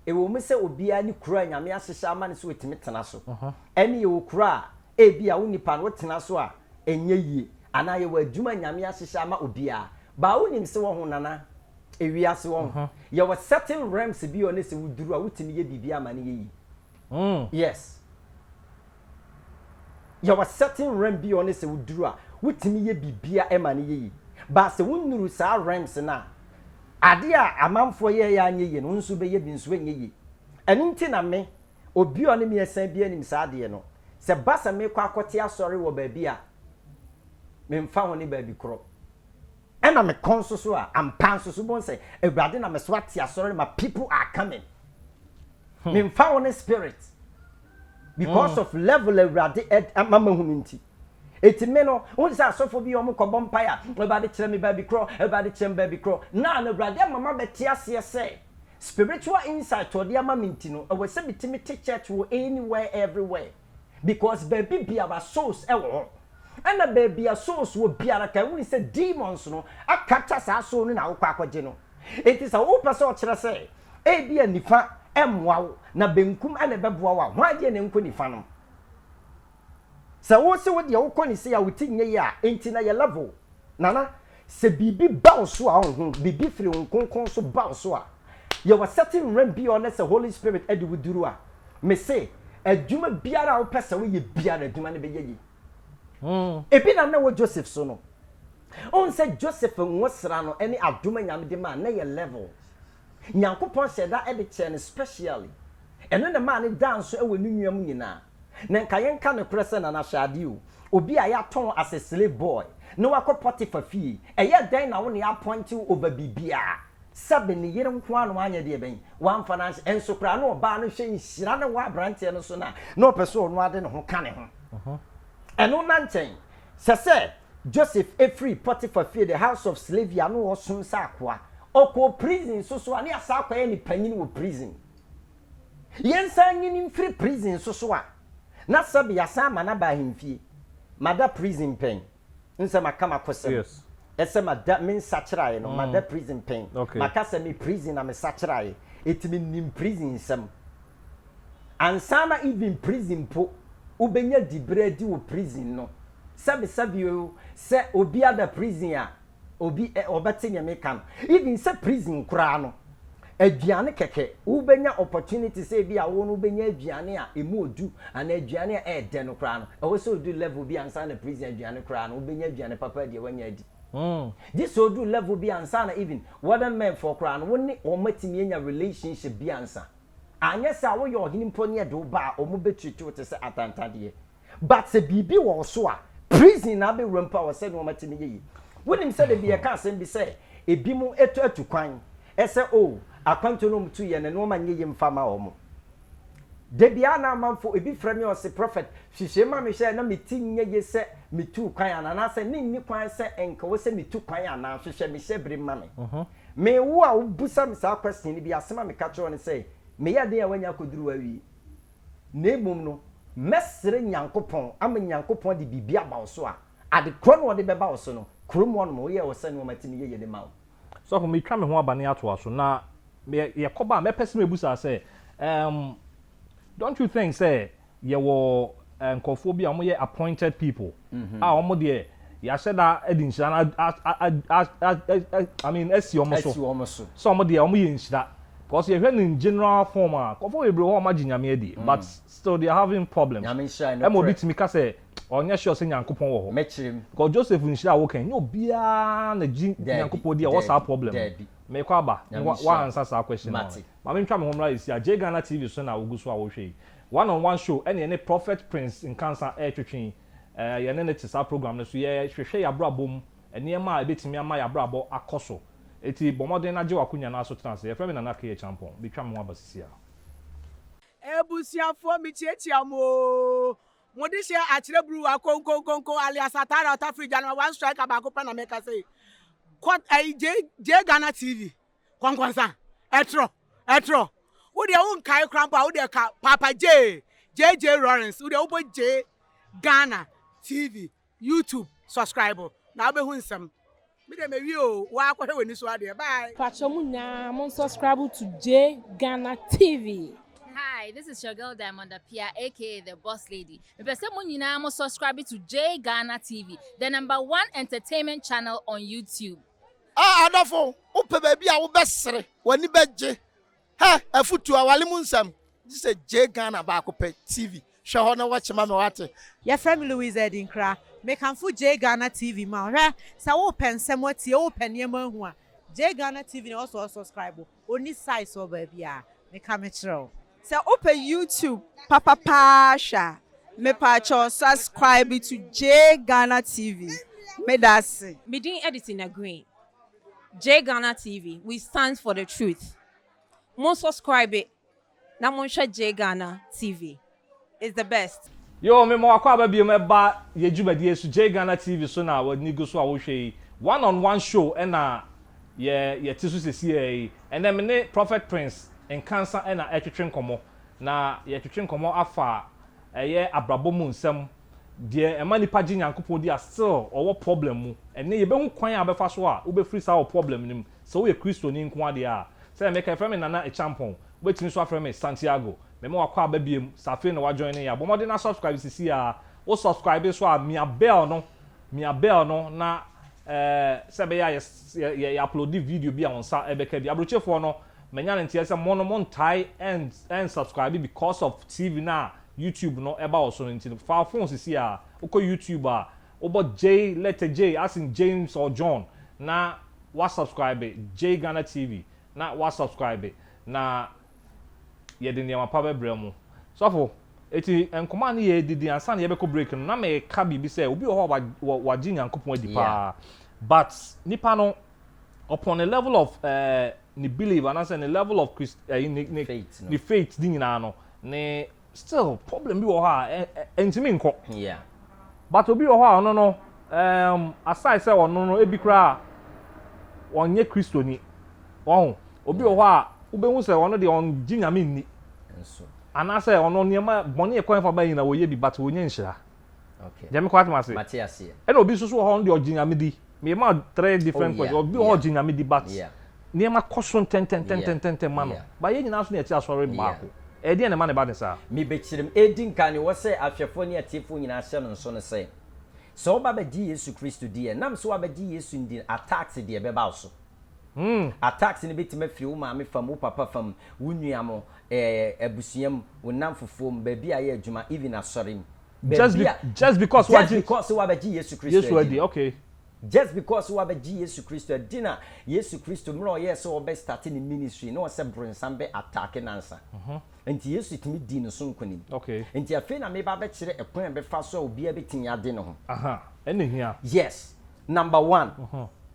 S3: Ɛwom sɛ obiara ne kuro a Nyame ahyehyɛ ama no sɛ ɔtumi tena so. Ɛne yɛwɔ kuro a ebia wo nipa no wotena so a ɛnyɛ yie. Anaa yɛwɔ adwuma a Nyame ahyehyɛ ama obiara. But wonim sɛ wɔho Nana ewiase wɔho yɛwɔ certain realms bi a ɔne sɛ woduru a wotumi yɛ biribiara ma no yɛ yie. Mm. Yes. Yɛwɔ certain realm bi a ɔne sɛ woduru a, wotumi yɛ biribiara ɛma no yɛ yie. But sɛ wonnuru saa realms no a, adeɛ a amanfoɔ yɛeɛ a anyɛ yie no, wo nso wobɛyɛ bi nso ɛnyɛ yie. Ɛno nti na me, obi a ɔne me asiane biara nim saa adeɛ no. Sɛ ɛba sɛ mekɔ akɔte asɔre wɔ baabi a, memfa ho ne baabi korɔ. Ɛna me kɔn nso so a, ampa nso so wobɛhu sɛ Awurade na me so ate asɔre no ma people are coming. Me mfa wo ne spirit because of level Awurade ɛd ama mahunu nti. Eti me no, wohu sɛ asɔfo bi yɛ wɔn kɔbɔ mpae a, Awurade kyerɛ me baabi korɔ, Awurade kyerɛ me baabi korɔ. Now no Awurade ama mabɛte aseɛ sɛ spiritual insight a ɔde ama me nti no, ɛwɔ sɛ metumi te church wɔ anywhere everywhere. Because baabi biara souls wɔ hɔ. Ɛna baabi a souls wɔ biara ka ɛho ni sɛ demons no a capture saa soul no na wokɔ akɔgye no. Enti sɛ wopɛ sɛ ɔkyerɛ sɛ ebi a nifa mmoa wo na benkum na ɛbɛboa wo a, hwan deɛ na ɛnkɔ nifa nom? Sɛ wose wo deɛ wokɔ ne sei a wo ti nyɛ yie a, enti na yɛ level. Nana. Sɛ biribi ba wo so a ɔho, biribi firi Hon Kronkron so ba wo so a, yɛ wɔ certain realm bi a ɔnɛ sɛ Holy Spirit ɛde wo duru a, me se, adwuma biara a wo pɛ sɛ wo yɛ biara, adwuma no bɛyɛ yie. Ebi na na ɛwɔ Joseph so no. Wohu sɛ Joseph nwosra no ɛne adom a Nyame de maa no na ɛyɛ level. Nyankopɔn hyɛɛ da de kyɛɛ no specially. Ɛno na ɛmaa no daa nso wɔ ne nua mu nyinaa. Na nka yɛnka nokorɛ sɛ Nana hwɛ adeɛ o, obi a yɛatɔn wo as a slave boy na wakɔ Potiphar fie, ɛyɛɛ dɛn na wo na yɛapɔinte wo over biribiara? Sɛbe ne yere nko ara na wanyɛ deɛ bɛn? Wamfa no anhyɛ, nso koraa na ɔbaa no hwɛ nhyira no wɔ aberanteɛ no so no a na ɔpɛ sɛ ɔno ara de ne ho ka ne ho. Ɛno na nkyɛn. Sɛ sɛ Joseph firi Potiphar fie, the house of slavey, a na ɔresom sɛ akoa, ɔkɔɔ prison nso so a, na yɛasan akɔ ayɛ no panyin wɔ prison. Yɛnsan nyi no mfiri prison nso so a, na sɛbe yɛasan ama no aba ahemfie. Mada prison pɛn? Nsɛ maka m'akosɛm sɛ
S1: mada, me
S3: nsakyeraɛ no, mada prison pɛn? Maka sɛ me prison na me sakyeraɛ, enti menim prison nsɛm. Ansana even prison mpo wobɛnya diberɛ adi wɔ prison no sɛbe sɛbe oo sɛ obi ada prison a obi ɛ ɔbɛte neɛ meka no even sɛ prison koraa no aduane kɛkɛ wobɛnya opportunity sɛ ebi a wo no wobɛnya aduane a ɛmu ɔdu anaa aduane a ɛɛdɛ no koraa no ɛwɔ sɛ odu level bi ansana prison aduane koraa no wobɛnya aduane papa adi a wanya adi hmm gye sɛ odu level bi ansana even warden men foɔ koraa no wo ne wɔn atumi anya relationship bi ansa. Anyɛ saa a woyɛ ɔhene mpo ne yɛde wo ba a ɔmo bɛ treat wo te sɛ atantadeɛ. But sɛ biribi wɔ wo so a prison na abɛwura mpo a wɔ sɛ nnoɔma tumi yɛ yie. Wonim sɛ da bi yɛka asɛm bi sɛ ɛbi mo ɛtu atu kwan ɛsɛ oh akwantuo no ɔmo tu yɛ no nnoɔma nyɛ yie mfa ma ɔmo. Da biara na amanfo ɛbi frɛ me ɔse prophet hwehwɛ ma me hwɛ na me ti nyɛ yie sɛ me tuu kwan anaa anaasɛ ne nni kwan sɛ nka wɔ sɛ me tu kwan anaa hwehwɛ me hyɛ bere ma me. Me, wo a wobisa me saa question no bi, asem a meka kyerɛ wo ne sɛ, meyɛ den a woanya akɔduru hɔ awie. Na mmom no, mɛsrɛ Nyankopɔn ama Nyankopɔn de biribi aba wo so a, ade korɔ na ɔde bɛba wo so no, kurom hɔ nom, woyɛɛ wo sɛ nnoɔma te no yɛyɛ de ma wo. Sɔfo, metwa
S1: me ho aba na yɛatoa so, na yɛkɔba a, mɛpɛ sɛ mebusa sɛ, Um, don't you think sɛ yɛwɔ nkurɔfoɔ bi a wɔyɛ appointed people mhm. a wɔn deɛ yɛahyɛ da de nhyira no I mean asi wɔn so sɛ wɔn deɛ wɔyɛ nhyira because yɛhwɛ no in general form a nkurɔfoɔ bebree hɔ wɔn agye nyame adie mm. but still they are having problems ɛma obi tumi ka sɛ ɔnyɛ sure sɛ nyankopɔn wɔ hɔ because joseph
S3: nhyira a
S1: wokan nyɛ obiara na gye nyankopɔn di a ɔwɔ saa problem mekɔ aba woansa saa question no ma mentwa me ho mmra ɛsi a gye ghana tv so na wogu so a wohwɛ yi One on one show ɛne yɛne Prophet Prince Nkansah ɛretwetwe yi. Yɛne no te saa program no so. Yɛhwehwɛ y'abrabɔ mu nneɛma a ɛbɛtumi ama y'abrabɔ akɔ so. Enti bɔ mmɔden na gye w'akonya na so tena ase. Yɛfrɛ me Nana K. Acheampong. Metwa me ho aba sisi ara. Abusuafoɔ
S4: mekyiakyia mo oo Mode hyɛ akyerɛ bruwa konkonkonko alias atare a ɔtafiri gya no ma one striker baako pɛ na meka sei Kɔ ɛyi Jay Jay Ghana TV. Kɔnkɔnsa, ɛtrɔ, ɛtrɔ. Wo deɛ wo nkae kora mpo a wo deɛ ka Paapa Jay, JJ Lawrence, wo deɛ wo bɔ Jay Ghana TV, YouTube, subscribe na wo bɛ hu nsɛm. Me deɛ mɛ wie o, wo ara kɔhwɛ w'ani so adeɛ, bye. Pacho mo nyinaa
S5: mon subscribe to Jay Ghana TV. Hi, this is
S6: your girl Diamond Apia aka the boss lady. Mepɛ sɛ mo nyinaa mo subscribe to Jay Ghana TV, the number one entertainment channel on YouTube. A Adɔfo,
S7: wopɛ baabi a wobɛsere, w'ani bɛgye. Hɛ! Afotu, Aware mu nsɛm, gye sɛ gyae Ghana baako pɛ TV. Hwɛ hɔ na watch ma me wate. Yɛfrɛ me Louise
S8: Adinkra. Mekamfo gyae Ghana TV ma wo. Hwɛ! Sɛ wopɛ nsɛm atie, wopɛ nneɛma ahu a, gyae Ghana TV na ɛwɔ sɛ ɔsɔskraibo. Onni size wɔ baabi a, meka mekyerɛ
S9: wo.
S8: Sɛ
S9: wopɛ YouTube
S8: papa paa
S9: hwɛ a,
S4: mepaakyɛw subscribe to Jay Ghana TV. Medase. Me din Edison
S9: Aggrey. Jay Ghana TV, we stand for the truth. Mo subscribe na monhwɛ JGhana TV is the best. Yoo me ma wakɔ aba
S1: biom ɛba yɛ dwumadie so JGhana TV so na wani gu so a wo hwɛ yi one on one show ɛna yɛ yɛ te so sesiaa yi ɛnɛ me ne Prophet Prince Nkansah ɛna ɛtwetwe nkɔmɔ na yɛ twetwe nkɔmɔ afa ɛyɛ abrabɔ mu nsɛm deɛ ɛma nipa gye Nyankopɔn di a still ɔwɔ problem mu ɛnɛ yɛbɛhu kwan a bɛfa so a wo bɛfiri saa wo problem no mu. Sɛ woyɛ Kristoni nko ara deɛ a, sɛdeɛ meka yi, frɛ me Nana Acheampong. Wobɛtumi nso afrɛ me Santiago. Mema wakɔ aba biom, sɛ afei na woajoine yɛn a, bɔ mmɔden na subscribe sisi ara. Wo subscribe nso a, mia bell no, mia bell no na eh, sɛ ɛbɛyɛ a yɛ, yɛ, yɛ uploade video bi a wo nsa bɛka bi. Abrokyefoɔ no, manya no nteɛ sɛ mo no montae ɛn, ɛn subscribe because of TV no a YouTube no ɛba wɔ so no nti no. Fa wo phone sisi ara, wokɔ YouTube a, Wobɔ J letter J as in James or John na wa subscribe J Ghana TV na wa subscribe na yɛde nneɛma pa bɛbrɛ mo. Sɔfo, eti nkɔmaa no yɛ didi ansa na yɛbɛkɔ break no na meka biribi sɛ obi wɔ hɔ a wagye Nyankopɔn adi paa but nipa no upon the level of eh, ne belief anaasɛ ne level of Christ, eh, ne, ne, ne faith ne nyinaa no ne Still problem bi wɔ hɔ a ɛntumi nkɔ. Yeah. But obi wɔ hɔ a ɔno no um, aside sɛ ɔno no ebi koraa ɔnyɛ Kristoni. Wɔn obi wɔ hɔ a wobɛhu sɛ ɔno deɛ ɔngye nyame nni. Nso. Anaasɛ ɔno nneɛma bɔne ɛkwan fa ba nyina wɔyɛ bi but wɔnya nhyira. Okay. Gyɛ me kɔ atom ase. Mate aseɛ. Ɛna obi nso so wɔ hɔ ɔno deɛ ɔgye nyame di. Me ma three different oh, questions. Obi wɔ hɔ ɔgye nyame di but yeah. nneɛma kɔ so ntɛntɛntɛntɛntɛntɛn ma no. Ba yɛn nyinaa nso na yɛte asɔre baako. Ɛyɛ deɛ na ɛma ne ba ne saa. Me bɛkyerɛm. Edi
S3: nkan ne wɔ sɛ ahwɛfoɔ ne atiefoɔ nyinaa hyɛ no nso ne sɛ, sɛ woba bɛgye Yesu Kristo di ɛ, nam sɛ wabɛgye Yesu ndi no, attacks deɛ ɛbɛba wo so. Hmm. Attacks no bɛtumi afiri wo maame fam, wo papa fam, wo nua mo, ɛɛ abusua mu, wo nnamfofoɔ mu, baabi a ayɛ adwuma, even asɔre mu. Just be, just
S1: because wagye. Just because wabɛgye
S3: Yesu Kristo adi. Yesu adi, okay.
S1: Just because
S3: wabɛgye Yesu Kristo adi na Yesu Kristo mmerɛ ɔyɛɛ sɛ ɔbɛ starte ne ministry na ɔsɛ bronsam bɛ attack nansa. Nti Yesu tumi dii ne so nkunim. Okay. Nti afei na
S1: meba
S3: abɛkyerɛ ɛkwan a ɛbɛfa so a obiara bɛtumi ade ne ho. Aha, ɛna ehia.
S1: Yes. Number
S3: one,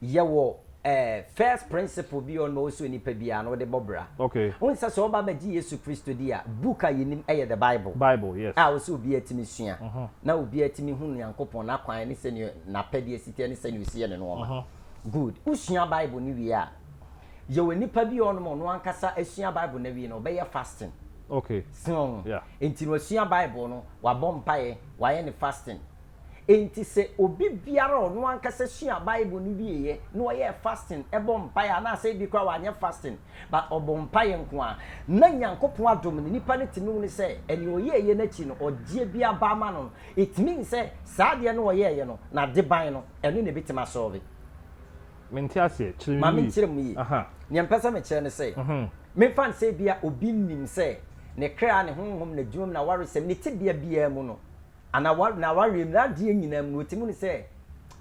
S3: yɛwɔ eh, first principle bi a ɔno ɔsɛ onipa biara no wode bɔ bra. Okay. Wohu sɛ sɛ ɔba
S1: bɛgye
S3: Yesu Kristo di a, book a yɛnim ɛyɛ the Bible. Bible, yes. A
S1: ɔsɛ obiara tumi
S3: sua, na obiara tumi hu Nyankopɔn n'akwan ne sɛnea n'apɛdeɛ si teɛ ne sɛnea ɔsi yɛ ne nnoɔma. Good. Wosua Bible no wie a, yɛwɔ nipa bi a ɔnom ɔno ankasa asua Bible no awie no, ɔbɛyɛ fasting. Okay. So
S1: ho? Yeah.
S3: Enti no wasua Bible no, wabɔ mpaeɛ, wayɛ ne fasting. Enti sɛ obi biara a ɔno ankasa suaa Bible no wieeɛ na ɔyɛɛ fasting bɔ mpaeɛ anaasɛ ebi koraa wanyɛ fasting but ɔbɔ mpaeɛ nko ara na Nyankopɔn adom no nipa no tumi hunu sɛ ɛnea ɔyɛeɛ no akyi no ɔgyeɛ bi aba ama no no, it means sɛ saa adeɛ no a ɔyɛeɛ no n'ade ban no ɛno na ɛbɛtumi asɔlve. Mente
S1: aseɛ, kyerɛ me mu yie. Ma menkyerɛ mu yie.
S3: Nea mepɛ sɛ mekyerɛ ne sɛ, memfa no sɛ ebia obi nim sɛ ne kra, ne honhom, n'adwuma mu, n'awaresɛm, ne tebea biara mu no, Ana wa na wareɛ mu nadeɛ nyinaa mu no ɔte mu no sɛ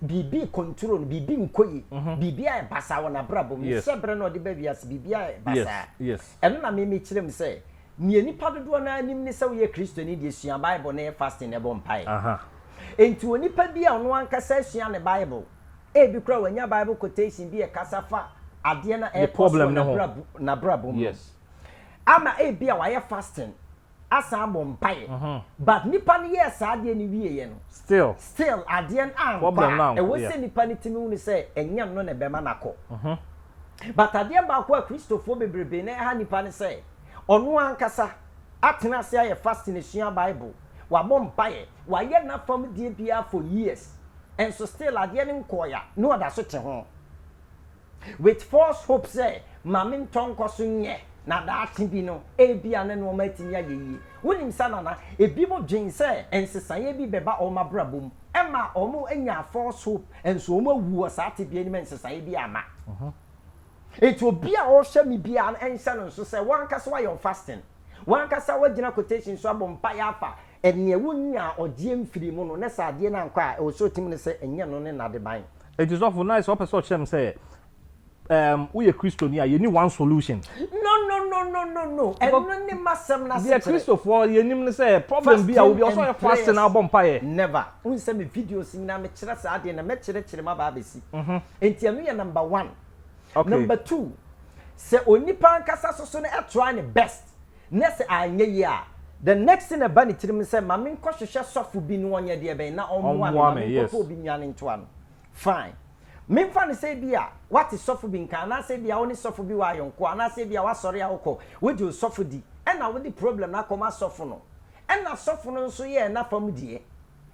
S3: biribi rekɔnturo no, biribi nkɔ yi, biribi ayɛ basaa wɔ nabrabɔ mu, ne hyɛbrɛ na ɔde ba wiase biribi ayɛ basaa. Ɛno na me
S1: mekyerɛ mu
S3: sɛ neɛ nipa dodoɔ no ara nim ne sɛ woyɛ Kristoni deɛ sua Bible na yɛ fasting na bɔ mpaeɛ. Enti onipa bi a ɔno ankasa asua ne Bible, ebi koraa wanya Bible quotation bi ɛkasa fa adeɛ no a ɛrekɔ so wɔ
S1: nabrabɔ
S3: mu no
S1: ama
S3: ebia wayɛ fasting, asan abɔ mpaeɛ but nipa no yɛɛ saa adeɛ no wieɛ no still still adeɛ no ankɔ a ɛwɔ sɛ
S1: nipa no
S3: tumi hunu sɛ ɛnyɛ no na ɛbɛma no akɔ but adeɛ baako a kristofoɔ bebrebe na ɛha nipa ne sɛ ɔno ankasa atena ase ayɛ fasting asua bible wabɔ mpaeɛ wayɛ n'afam deɛ biara for years nso still adeɛ no nkɔɔɛ a na ɔda so te ho. With false hope sɛ, Ma me ntɔ nkɔ so nyɛ, na daakye bi no, ebia ne nneɛma atumi ayɛ yie. Wunim saa nana? Ebinom dwen sɛ nsesaeɛ bi bɛba wɔn abrabɔ mu. Ɛma wɔnya false hope, nso wɔawu wɔ saa tebea no mu a nsesaeɛ biara amma. Enti obi a ɔrehwɛ me biara no, nhyɛ no nso sɛ w'ankasa woayɛ wo fasting, w'ankasa woagyina quotation so abɔ mpaeɛ afa nea wunyaa ɔgyeɛ mfirii mu no, na sɛ adeɛ no ankɔ a, ɛwɔ sɛ ɔtim no sɛ ɛnyɛ ɛno ne n'adeban. Enti sɔfo na ayɛ sɛ ɔpɛ
S1: sɛ ɔkyerɛ me sɛ um, woyɛ Kristoni a yɛni one solution. No, no, no, no, no, no.
S3: Ɛno ne m'asɛm no asekyerɛ. Deɛ Kristofoɔ yɛnim
S1: ne sɛ problem bi a obi ɔsɛ ɔyɛ faste na ɔbɔ mpaeɛ. Never. Wohu sɛ me
S3: videos nyinaa mekyerɛ saa adeɛ na mɛkyerɛkyerɛ mu aba abɛsi. Mhm. Enti ɛno yɛ number one. Okay. Number two, sɛ onipa ankasa soso no try ne best. Na sɛ anyɛ yie a, the next thing ɛba ne tirim ne sɛ, ma me nkɔ hwehwɛ sɔfo bi na ɔnyɛ deɛ bɛn, na ɔmmoa me, ma me nkɔ pɛ obi nnuane nto ano. Fine. Me mfa no sɛ ebi a, woate sɔfo bi nka, anaasɛ ebi a, wo ne sɔfo bi wɔ ayɔnkoɔ, anaasɛ ebi a, w'asɔre a wokɔ, wogye wo sɔfo di, ɛna wode problem no akɔ ma sɔfo no, ɛna sɔfo no nso yɛɛ n'afa mu deɛ.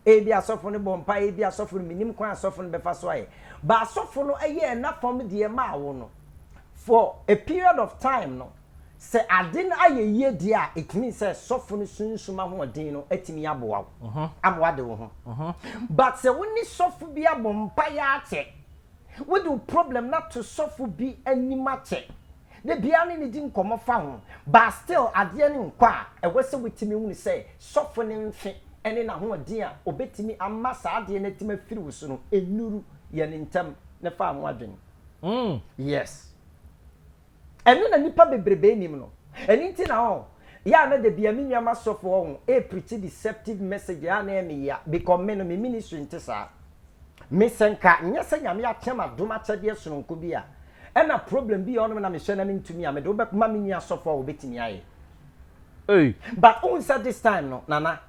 S3: Ebia asɔfo no bɔ mpae, ebia asɔfo no, minnim kwan a asɔfo no bɛfa so ayɛ. But asɔfo no yɛɛ n'afam deɛ maa wo no. For a period of time no, sɛ ade no ayɛ yie deɛ a, it means sɛ sɔfo no sunsum ahoɔden no atumi aboa wo ama woade wo ho. But sɛ wo ne sɔfo bi abɔ mpaeɛ akyɛ, wode wo problem no ato sɔfo bi anim akyɛ, Da biara ne no di nkɔmmɔ fa ho. But still adeɛ no nkɔ a, ɛwɔ sɛ wotumi hunu sɛ sɔfo no mfe ne n'ahoɔden a ɔbɛtumi ama saa adeɛ no atumi afiri wo so no nnuru yɛn ntam no fa ho adwene. Mm, yes. Ɛno na nnipa bebrebe nnim no. Ɛno nti na ɔho yɛ a na da biara me nua m'asɔfo ɔho ɛrepreachi deceptive messages a na ɛyɛ me yea because me no me ministry nte saa. Me sɛ nka nyɛ sɛ Nyame akyɛ m'adom akyɛdeɛ sononko bi a, Ɛna problem bi yɛ ɔnom na me hyɛ na me ntumi a me de wo bɛ ma me nua sɔfo a obetumi ayɛ ei but wo hun sɛ this time no nana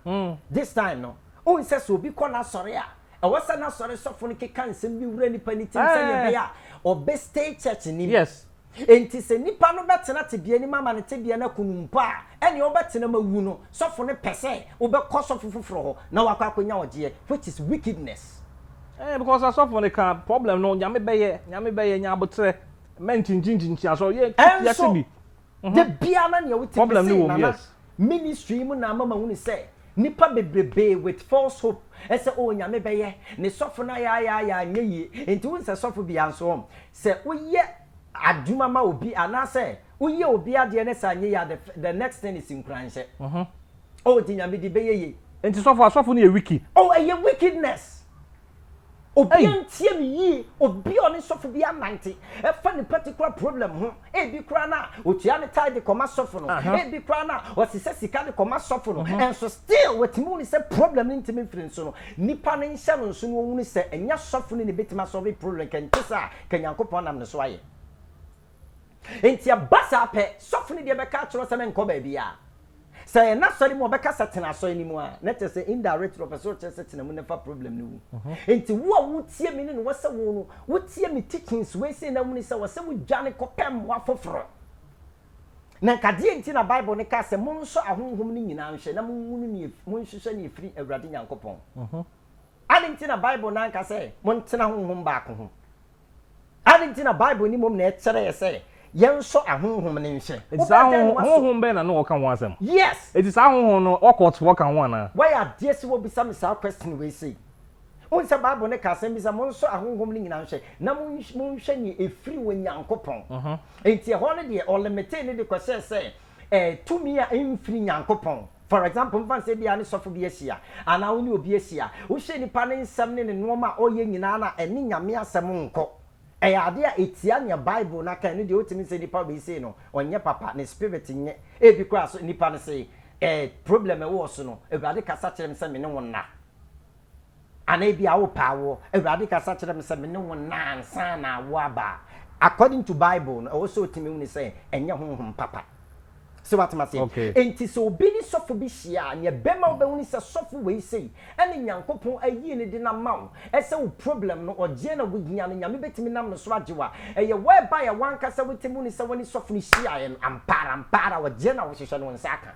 S3: this time no wo hun sɛ sɛ obi kɔ n'asɔre a ɛwɔ sɛ n'asɔre sɔfo no keka nsɛm bi wura nipa ne tim sɛnea ɛbɛyɛ a ɔbɛ stay church nim yes enti
S1: sɛ nipa
S3: no bɛ tena tebea nim ama ne tebea no aku no mpo a ɛnea ɔbɛ tena ma wu no sɔfo no pɛ sɛ wo bɛ kɔ sɔfo foforɔ hɔ na wakɔ akɔnya ɔgyeɛ which is wickedness. Ɛɛ because
S1: asɔfo no ka problem no nyame bɛyɛ nyame bɛyɛ nya abotrɛ mɛ nkyinkyinkyinkyia so yɛ ɛnso ase bi.
S3: Da bia na nea wote me se nana
S1: ministry mu na
S3: ama mahunu sɛ nipa bebrebee with false hope ɛsɛ oh nyame bɛyɛ ne sɔfo no ayaayaaya anyɛ yie nti wohu sɛ sɔfo bia nso oh sɛ woyɛ adwuma ma obi anaasɛ woyɛ obi adeɛ ne sɛ anyɛ yie a the next thing is nkuranhyɛ. Oh nti nyame di bɛyɛ yie. Nti sɔfo asɔfo no yɛ
S1: wiki. Oh ɛyɛ wickedness.
S3: Obi antie me yie obi a ɔne sɔfo bi anante ɛfa ne particular problem ho ebi koraa na otua ne tithe de kɔma sɔfo no ebi koraa na ɔsesɛ sika de kɔma sɔfo no nso still watumi hunu sɛ problem no ntumi mfiri nso no nipa no nhyɛ no nso na ɔhunu sɛ ɛnyɛ sɔfo no na ebetumi asɔfe problem kɛntesa ka Nyankopɔn nam ne so ayɛ. Enti ɛba saa pɛ, sɔfo no deɛ bɛka akyerɛ wo sɛ menkɔ baabiara. Sɛ ɛyɛ n'asɔre mu a, ɔbɛka sɛ tena asɔre no mu a, na kyerɛ sɛ indirectly ɔpɛ sɛ ɔkyerɛ sɛ tena mu na fa problem no wu. Enti wo a wotie me no na wɔsɛ wo no, wotie me teachings wei sei na wohunu sɛ wɔsɛ wodwane kɔpɛ mmoa foforo. Na nka deɛn nti na Bible no kaa sɛ monsɔ ahonhom no nyinaa nhwɛ na monhunu nea, monhwehwɛ nea ɛfiri Awurade Nyankopɔn? Adɛn nti na Bible no anka sɛ montena honhom baako ho? Adɛn nti na Bible no mmom na ɛkyerɛɛ sɛ yɛnsɔ ahonhom no nhwɛ? Enti saa Wobɛdan ahonhom, wo aso.
S1: honhom bɛn na na wɔka ho asɛm? Yes! Enti saa ahonhom
S3: no,
S1: occultfoɔ ka ho anaa? Wayɛ adeɛ sɛ wobisa
S3: me saa question wei sei. Wohu sɛ Bible no ka asɛm bi sɛ, Monsɔ ahonhom no nyinaa nhwɛ, na monhwɛ nea ɛfiri Onyankopɔn. Enti ɛhɔ no deɛ, ɔlimitee no de kɔhyɛɛ sɛ, eh, tumi a ɛmfiri Nyankopɔn. For example, mfa no sɛ ebia ne sɔfo bi ahyia, anaa wo ne obi ahyia, wohyɛ nipa no nsɛm ne ne nnoɔma a ɔyɛ nyinaa no a, ɛne Nyame asɛm nkɔ. Ɛyɛ adeɛ a ɛtia nea Bible no aka, ɛno deɛ wotumi sɛ nipa wei sei no, ɔnyɛ papa, ne spirit nyɛ, ebi koraa so nipa no sei, eh, problem ɛwɔ so no, Awurade kasa kyerɛ me sɛ me ne wo nna. Anaa ebia wopɛ awoɔ. Awurade kasa kyerɛ me sɛ me ne wo nna ansa na awoɔ aba a, according to Bible no, ɛwɔ sɛ otumi hunu sɛ ɛnyɛ honhom papa. Sɛ woate m'aseɛ? Okay. Enti sɛ obi ne sɔfo bi hyia a, nea ɛbɛma wobɛhunu sɛ sɔfo wei sei ɛna Nyankopɔn ayie no de no ama wo, ɛsɛ wo problem no ɔgyeɛ na wohia no, Nyame bɛtumi nam no so agye wo a, ɛyɛ whereby a wankasa wotumi hunu sɛ wone sɔfo no hyiaeɛ no, ampaara ampaara ɔgyeɛ na wohwehwɛ no, wo nsa aka.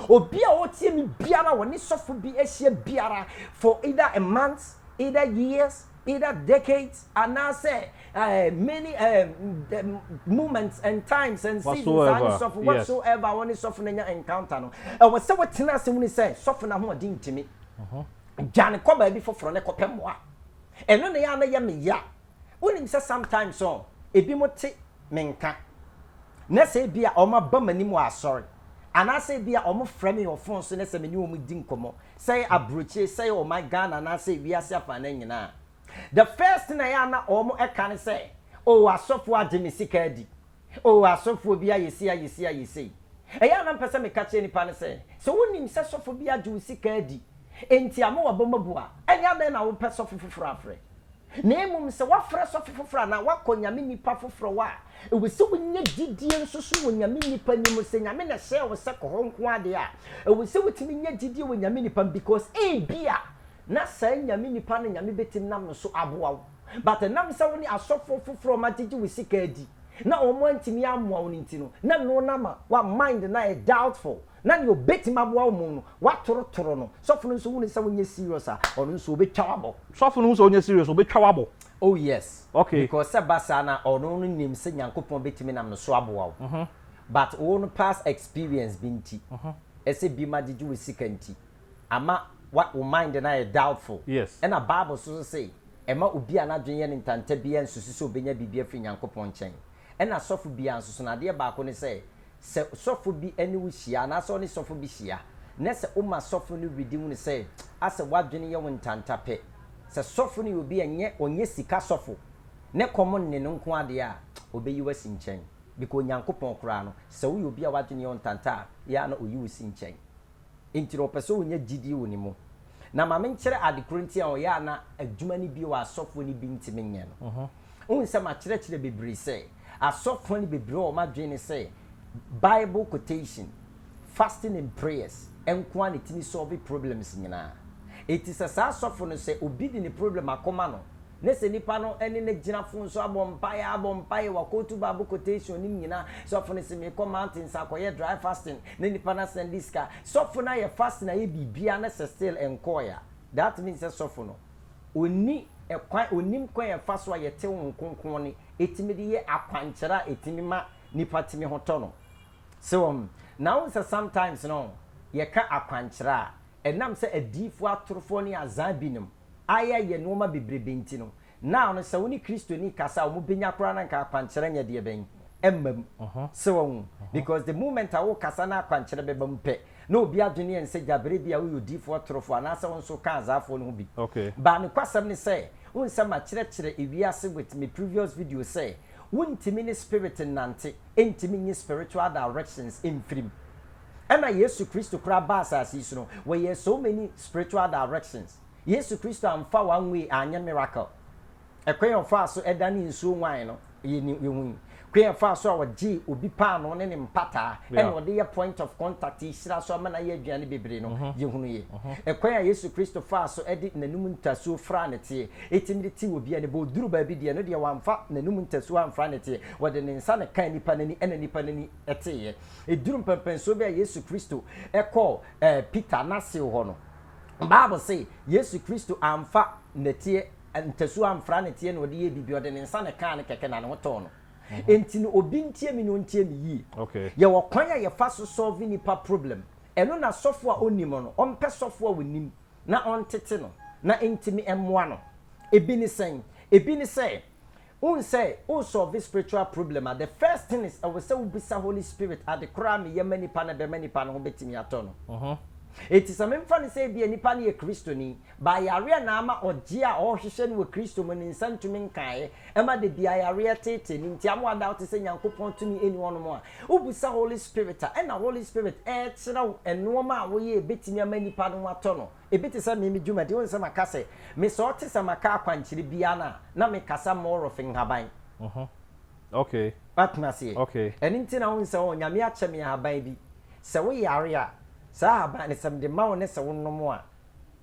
S3: Obi a ɔretie me biara a ɔne sɔfo bi ahyia biara for either a month, either years, either decades, anaasɛ eh, many eh, eh, moments and times and seasons, saa ne Whatsoever, sɔfo, yes. whatsoever, a ɔne sɔfo no anya encounter no, ɛwɔ sɛ wotena ase hunu sɛ sɔfo no ahoɔden ntumi. Gya no kɔ baabi foforɔ na kɔpɛ mmoa. Ɛno na ɛyɛ a na ɛyɛ me ya. Wonim sɛ sometimes ɔ, ebinom te me nka, na sɛ ebia wɔaba m'anim wɔ asɔre, anaasɛ ebia wɔfrɛ me wɔ fon so na sɛ me ne wɔn di nkɔmmɔ, sɛ ɛyɛ aburokyire, sɛ ɛyɛ ɔman Ghana anaasɛ wiase afanan nyinaa a, the first thing a ɛyɛ a na wɔka ne sɛ, Oh, asɔfoɔ agye me sika adi. Oh, asɔfoɔ bi ayɛ sei, ayɛ sei, ayɛ sei. Ɛyɛ a na mepɛ sɛ meka kyerɛ nnipa no sɛ, sɛ wonim sɛ sɔfo bi agye wo sika adi, enti ama w'abam abu a, ɛnde adɛn na wopɛ sɔfo foforɔ afrɛ? Na mmom sɛ woafrɛ sɔfe foforɔ anaa woakɔ nyame nipa foforɔ hɔ a, ɛwɔ sɛ wonya gyidie nso so wɔ nyame nipa no mu. Sɛ nyame na ɛhyɛɛ wo sɛ kɔ hɔ nko ara deɛ a, ɛwɔ sɛ wotumi nya gyidie wɔ nyame nipa mu because ebia na saa nyame nipa no nyame bɛtumi nam no so aboa wo but ɛnam sɛ wo ne asɔfoɔ foforɔ a wɔagyegye wo sika adi na wɔantumi ammoa wo no nti no, na ɛno no ama wo mind no ayɛ doubtful. na nea obetumi aboa wo mmom no, woatorotoro no. Sɔfo no nso hu no sɛ wonyɛ serious a, ɔno nso obetwa wo abɔ. Sɔfo no hu sɛ wonyɛ
S1: serious a, obetwa wo abɔ. Oh yes,
S3: Okay. because sɛ ɛba
S1: saa no a,
S3: ɔno no nim sɛ Nyankopɔn betumi nam no so aboa wo. But wo no past experience bi nti, ɛsɛ binom agyegye wo sika nti, ama wa, wo mind no ayɛ doubtful. Yes. Ɛna Bible nso
S1: so se,
S3: Ɛma obi a n'adwene yɛ no ntanta biara nsusu sɛ obenya biribi afiri Nyankopɔn nkyɛn. Ɛna sɔfo biara nso so no, adeɛ baako ne sɛ, Sɛ sɔfo bi ne wo hyia anaasɛ ɔne sɔfo bi hyia na sɛ woma sɔfo no were di hu no sɛ asɛ w'adwene yɛ wo ntanta pɛ. Sɛ sɔfo no yɛ obi a ɛnyɛ ɔnyɛ sika sɔfo ne kɔm nne no nko ara deɛ a, ɔbɛyi wo asi nkyɛn. Bikɔ Onyankopɔn koraa no, sɛ woyɛ obi a w'adwene yɛ wo ntanta a, yɛ ara na ɔyi wo si nkyɛn. Enti no ɔpɛ sɛ wonya gyidie wɔ ne mu. Na ma menkyerɛ ade korɔ nti a ɔyɛ a na adwuma no bi wɔ asɔfoɔ no bi ntumi nyɛ no. Wohu sɛ makyerɛkyerɛ bebree sɛ. Asɔfoɔ no bebree wɔn adwene ne sɛ Bible quotation, fasting and prayers nko ara na ɛtumi solve problems nyinaa. Enti sɛ saa sɔfo no sɛ obi de ne problem akɔma no na sɛ nipa no ne no gyina fon so abɔ mpaeɛ ara abɔ mpaeɛ, waquote Bible quotation no nyinaa, sɔfo no se merekɔ mountains akɔyɛ dry fasting na nipa no asan de sika, sɔfo no ayɛ fasting ayɛ biribiara na sɛ still ɛnkɔɔɛ a, that means sɛ sɔfo no ɔnni kwan, ɔnnim kwan a ɛfa so a yɛte Honhom Kronkron ne ɛtumi de yɛ akwankyerɛ a ɛtumi ma nipa tumi ho tɔ no. So wɔn? Na wohu sɛ sometimes no yɛka akwankyerɛ a, ɛnam sɛ adiyifoɔ atorofoɔ ne azaa binom ayɛyɛ nnoɔma bebrebe nti no, now no sɛ wo ne Kristoni kasa a wɔbɛnya koraa no anka akwankyerɛ nyɛ deɛ bɛn? Ɛmma mu. So wɔn? Because the moment a worekasa na akwankyerɛ bɛba mu pɛ, Na obi adwene yɛ no sɛ Gyabere ebia woyɛ odiyifoɔ atorofo anaasɛ wo nso woka Azaafoɔ no ho bi. But nokwasɛm
S1: ne sɛ,
S3: wohu sɛ makyerɛkyerɛ ewiase with me previous video sɛ, wontumi ne spirit nnante, ɛntumi nyi spiritual directions mfiri mu. Ɛna Yesu Kristo koraa baa asase yi so no, wɔyɛɛ so many spiritual directions. Yesu Kristo amfa one way anyɛ miracle. Kwan a ɔfaa so danee nsuo nwae no, yɛhu yi. Kwan a ɔfaa so a ɔgyee obi paanoo ne ne mpataa na ɔde yɛ point of contact yi hyiraa so ama no ayɛ aduane bebree no, yɛhunu yi. Kwan a Yesu Kristo faa so de n'anom ntasuo fraa ne teɛ, ɛtumi de tee obi anim. Ɔduruu baabi deɛ, ɛno deɛ wamfa n'anom ntasuo amfra ne teɛ. Ɔde ne nsa na ɛkaa nipa no ani na nipa no ani teeɛ. Ɛduruu mpɛnpɛnsoɔ bi a Yesu Kristo kɔɔ Peter n'aseo hɔ no, Bible se Yesu Kristo amfa nɛteɛ Ntasuo amfra ne teɛ na ɔde yɛɛ biribi, ɔde ne nsa na ɛkaa ne kɛkɛ na ne ho tɔɔ no. Enti no obi ntie me na ɔntie me yie. Yɛwɔ kwan
S1: a yɛfa
S3: so solve nnipa problem. Ɛno na sɔfo a ɔnnim no, ɔmpɛ sɔfo a ɔnim na ɔntete no na enti me mmoa no. Ebi ne sɛn? Ebi ne sɛ, Wohu sɛ wo solve spiritual problem a the first thing is ɛwɔ sɛ wo bisa Holy Spirit ade koro a me yɛ ma nipa no bɛma nipa no ho bɛtumi atɔ no. Enti sɛ memfa no sɛ ebia nipa no yɛ Kristoni but yareɛ na ama ɔgyeɛ a ɔrehwehwɛ no wɔ Kristo mu no nsa ntumi nkaeɛ ɛma da biara yareɛ teetee no nti ama wadaote sɛ Nyankopɔn tumi ɛni hɔnom a wo bisa Holy Spirit a ɛna Holy Spirit ɛɛkyerɛ wo nnoɔma a woyɛ a ɛbɛtumi ama nipa no ho atɔ no. Ebi te sɛ me, me dwumadi, wohu sɛ maka sɛ, me sɛ ɔte sɛ maka akwankyerɛ biara no a, na mekasa more of nhaban. Mm-hmm.
S1: Okay. Woate me aseɛ?
S3: Okay. Ɛno nti na
S1: wohu sɛ, oh,
S3: Nyame akyɛ me ahaban bi. Sɛ wo yare a, saa ahaban no, sɛ mede ma wo na sɛ wo nom a,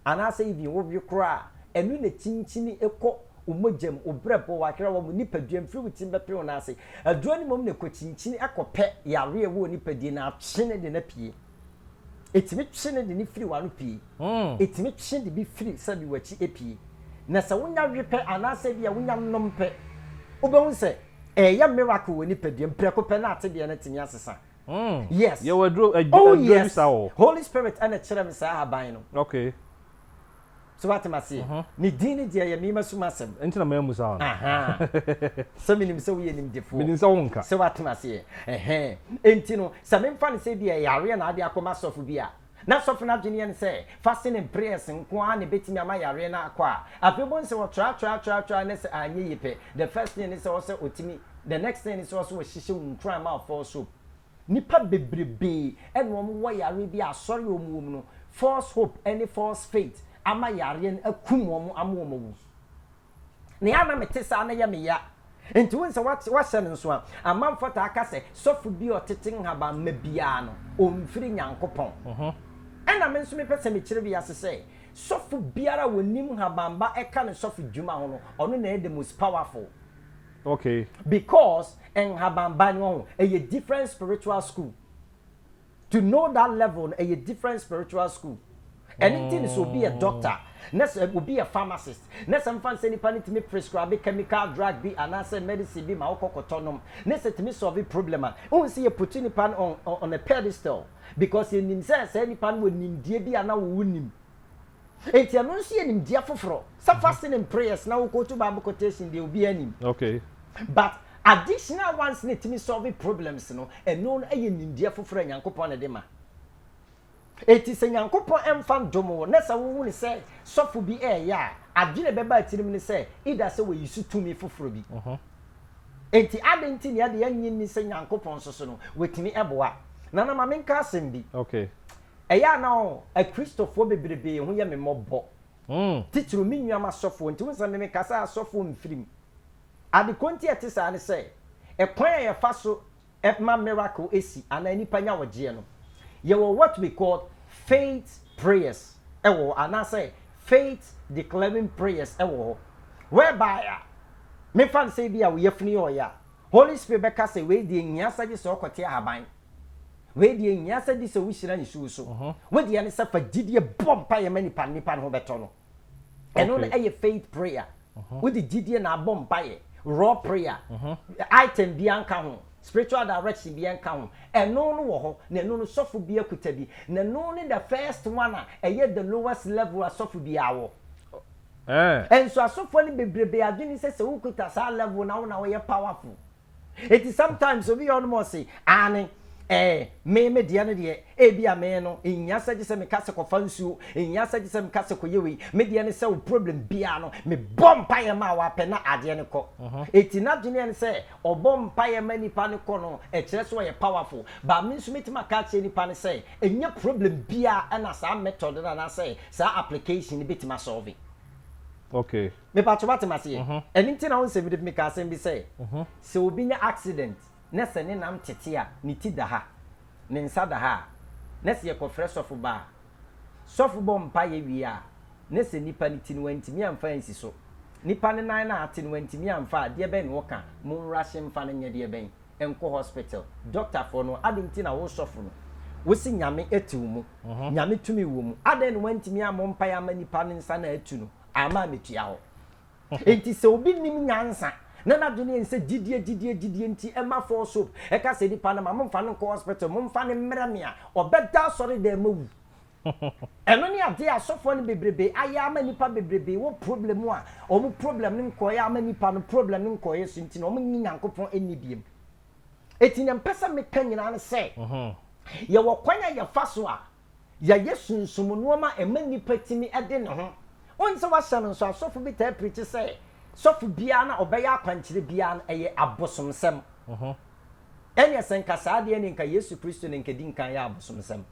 S3: anaasɛ even wo we koraa a, ɛno na ɛkyinkyini kɔ wo mogya mu, wo brɛboɔ, w'aherewa mu, nipadua mu, firi wo tirim bɛpem wo nan ase. Aduro no mmom na ɛkɔ kyinkyini kɔ pɛ yare a ɛwɔ wo nipadua mu na atwe no de no apue. Ɛtumi twe ne de no firi w'ano pue. Ɛtumi twe de bi firi sɛbi w'akyi apue. Na sɛ wonya we pɛ anaasɛ bi a wonya nom pɛ, wobɛhu sɛ ɛreyɛ miracle wɔ nipaduam. Prɛko pɛ na atedeɛ no atumi asesa. Yes. Oh
S1: yes.
S3: Holy Spirit na ɛkyerɛɛ me saa ahaban no. Okay. so wate m'aseɛ mhm. ne din ne deɛ yɛ mema sum asɛm ɛnti na maamu saa no sɛ menim sɛ woyɛ nimdefoɔ menim sɛ wonka sɛ wate
S1: m'aseɛ
S3: ɛhɛn ɛnti no sɛ memfa no sɛ bi ɛyɛ areɛ na ade akɔma sɔfo bi a na sɔfo no adweneɛ ne sɛ fasten and prayers nko ara na ɛbɛtumi ama yareɛ no akɔ a afei bɛhu sɛ wɔtratratratratra ne sɛ anyɛ yi pɛ the first thing ne sɛ ɔsɛ ɔtumi the next thing ne sɛ ɔsɛ wɔhyehyɛ wo nkuran ma ɔfɔɔ soap Nnipa bebrebee na wɔn wɔ yareɛ bi a asɔre a wɔn wɔ mu no false hope ɛne false faith ama yareɛ no akum wɔn ama wɔn awu. Na yɛ a na me te saa na yɛ me ya. Nti wohu sɛ wate wahyɛ no nso a, amanfoɔ taa ka sɛ sɔfo bi a ɔtete nhaban mma biara no ɔnfiri Nyankopɔn. Ɛna me nso me pɛ sɛ me kyerɛ wiase sɛ sɔfo biara a wɔnim nhaban ba ɛka ne sɔfo dwuma ho no ɔno na ɛyɛ the most powerful. Okay.
S1: Because
S3: nhaban ba no wahu ɛyɛ different spiritual school to know that level no ɛyɛ different spiritual school ɛne nti ne sɛ obi yɛ doctor na sɛ obi yɛ pharmacist na sɛ mfa nsɛ nipa no tumi prescribe chemical drug bi anaasɛ medicine bi ma wokɔ kɔtɔ nom ne sɛ tumi solve problem a wohu sɛ yɛ puti nipa no on, on a pedestal because yɛnim sɛ saa nipa no wɔ nimdeɛ bi a na wowo nim Enti ɛno nso yɛ nimdeɛ foforɔ. Sɛ fa sini mprayers na wo quote bible quotation deɛ obiara nim. Okay.
S1: But
S3: additional ones na ɛtumi solve problems no, ɛno no yɛ nimdeɛ foforɔ a Nyankopɔn na ɛde ma. Enti sɛ Nyankopɔn ɛmfa ndom wo na sɛ wo hunu sɛ sɔfo bi ɛɛyɛ a, adwene ɛbɛba atirim ne sɛ either sɛ wayi so tumi foforɔ bi. Enti adɛn nti na yɛde yɛn nnye nni sɛ Nyankopɔn nso so no, watumi ɛboa? Nana ma menka asɛm bi. Okay.
S1: Ɛyɛ a na
S3: Akristofoɔ bebrebee ho yɛ me mmɔbɔ, titiriw me nuam asɔfoɔ nti. Wohu sɛ memeka sɛ asɔfoɔ mfirim. Ade korɔ nti a ɛte saa ne sɛ, kwan a yɛfa so ma miracle si anaa nnipa nya ɔgyeɛ no, yɛwɔ what we call faith prayers wɔ hɔ, anaasɛ faith declaring prayers wɔ hɔ, whereby a, memfa no sɛ ebia wo yafunu yɛ ɔyɛ a, Holy Spirit bɛka sɛ wei deɛ nhia sɛ gye sɛ ɔkɔte ahaban. Wei deɛ ɛnhia sɛ di sɛ wohyira nsuo so. Wo deɛ ne sɛ fa gyidie bɔ mpaeɛ ma nipa no, nipa no ho bɛtɔ no. Ɛno no ɛyɛ faith prayer. Wode gyidie na abɔ mpaeɛ, raw prayer. Item biara nka ho, spiritual direction biara nka ho. Ɛno no wɔ hɔ, na ɛno no sɔfo biara kuta bi. Na ɛno ne the first one a ɛyɛ the lowest level a sɔfo biara wɔ. Nso asɔfoɔ no bebrebe adwene ne sɛ sɛ wokuta saa level no a wo na woyɛ powerful. Enti sometimes obi yɛ ɔnom ɔse aane eh me me deɛ no deɛ ebia me no ɛnhia sɛ gyesɛ meka sɛ kɔfa nsuo ɛnhia sɛ gyesɛ meka sɛ kɔyɛ wei me deɛ ne sɛ wo problem biaa no me bɔ mpaeɛ ma wo apɛ na adeɛ no kɔ eti nadweneɛ ne sɛ ɔbɔ mpaeɛ ma nipa no kɔ no ɛkyerɛ sɛ ɔyɛ powerful but me nso mɛtumi aka akyerɛ nipa no sɛ ɛnyɛ problem biaa ɛna saa method no anaasɛ saa application no bɛtumi asɔlve. Okay.
S1: Mepakyɛ wate
S3: mase yɛ? Ɛno nti na wohu sɛ mede meka asɛm bi sɛ, sɛ obi nya accident na sɛ ne nam tete a ne ti da ha, ne nsa da ha a, na sɛ yɛkɔfrɛ sɔfo ba a, sɔfo bɔ mpaeɛ wie a, na sɛ nipa no ti no wantumi amfa ansi so, nipa no nan no a ate no wantumi amfa a, deɛ bɛn na woka? Monrush mfa no nyɛ deɛ bɛn? Nkɔ hospital. Doctor foɔ no, adɛn nti na wo sɔfo no, wose Nyame te wo mu, Nyame tumi wɔ mu, adɛn na wantumi ammɔ mpaeɛ amma nipa no nsa no a atu no? ama metua hɔ. Enti sɛ obi nim nyansa na n'adwene yɛn sɛ gyidie gyidie gyidie nti ɛma four soap ɛka sɛ nipa no ma momfa no nkɔ hospital momfa no mmerɛ me a ɔbɛda asɔredan mu awu. Ɛno ne adeɛ a asɔfoɔ no bebrebe ayɛ ama nipa bebrebe wɔ problem mu a wɔn problem no nkɔeɛ ama nipa no problem no nkɔeɛ so nti na wɔn nnye Nyankopɔn nni biom. Enti nea mpɛ sɛ meka nyinaa ne sɛ yɛwɔ kwan a yɛfa so a Yɛayɛ sunsum nnoɔma a ɛma nipa tumi de ne ho. Wonim sɛ woahyɛ no nso asɔfo bi taa pirikyi sɛ sɔfo biara no a ɔbɛyɛ akwankyerɛ biara no ɛyɛ abosomsɛm. Ɛneɛ sɛ nka saa deɛ ɛneɛ nka Yesu Kristo na nka ɛdi nkan yɛ abosomsɛm.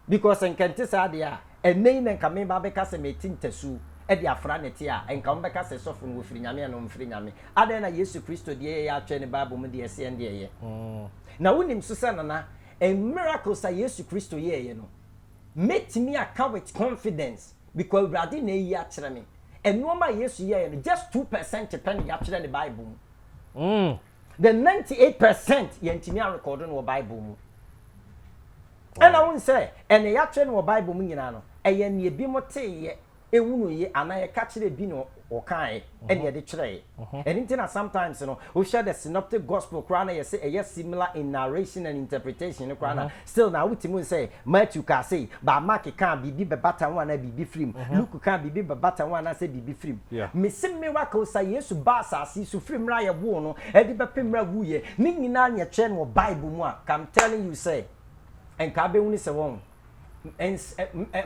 S3: Because nka ɛnte saa deɛ a ɛnɛ yi na nka meba abɛka sɛ mɛti ntasuo de afra ne te a nka wɔbɛka sɛ sɔfo no wɔfiri Nyame anaa wɔmfiri Nyame. Adɛn na Yesu Kristo deɛ yɛyɛ atwɛn ne Bible mu deɛ ɛse ɛnde ɛyɛ. Na wonim nso sɛ Nana A miracles a Yesu Kristo yɛeɛ no, mɛtumi aka with confidence because Awurade na ayi akyerɛ me. Nnoɔma a Yesu yɛeɛ no, just two percent pɛ na yɛatwerɛ no Bible mu. The ninety eight percent, yɛantumi arekɔɔdo no wɔ Bible mu. Ɛna wohu sɛ, ɛnea yɛatwerɛ no wɔ Bible mu nyinaa no, ɛyɛ nea ebinom teeɛ. hunuyɛ anaa yɛka kyerɛɛ bi na ɔkaaɛ ɛna yɛde twerɛɛ. Ɛno nti na sometimes no wohwɛ the synoptic gospel koraa na yɛse ɛyɛ similar in narration and interpretation no koraa na still na wotumi hu sɛ Matthew kaa sei but Mark kaa biribi bɛbata ho anaa biribi firi mu, Luke kaa biribi bɛbata ho anaasɛ biribi firi mu. Mese miracles a Yesu baa asase yi so firi mmerɛ a yɛwoo no de bɛpem mmerɛ a ɔwuiɛ ne nyinaa na yɛtwerɛ no wɔ Bible mu a nka I'm telling you sɛ nka wobɛhunu sɛ wɔhu.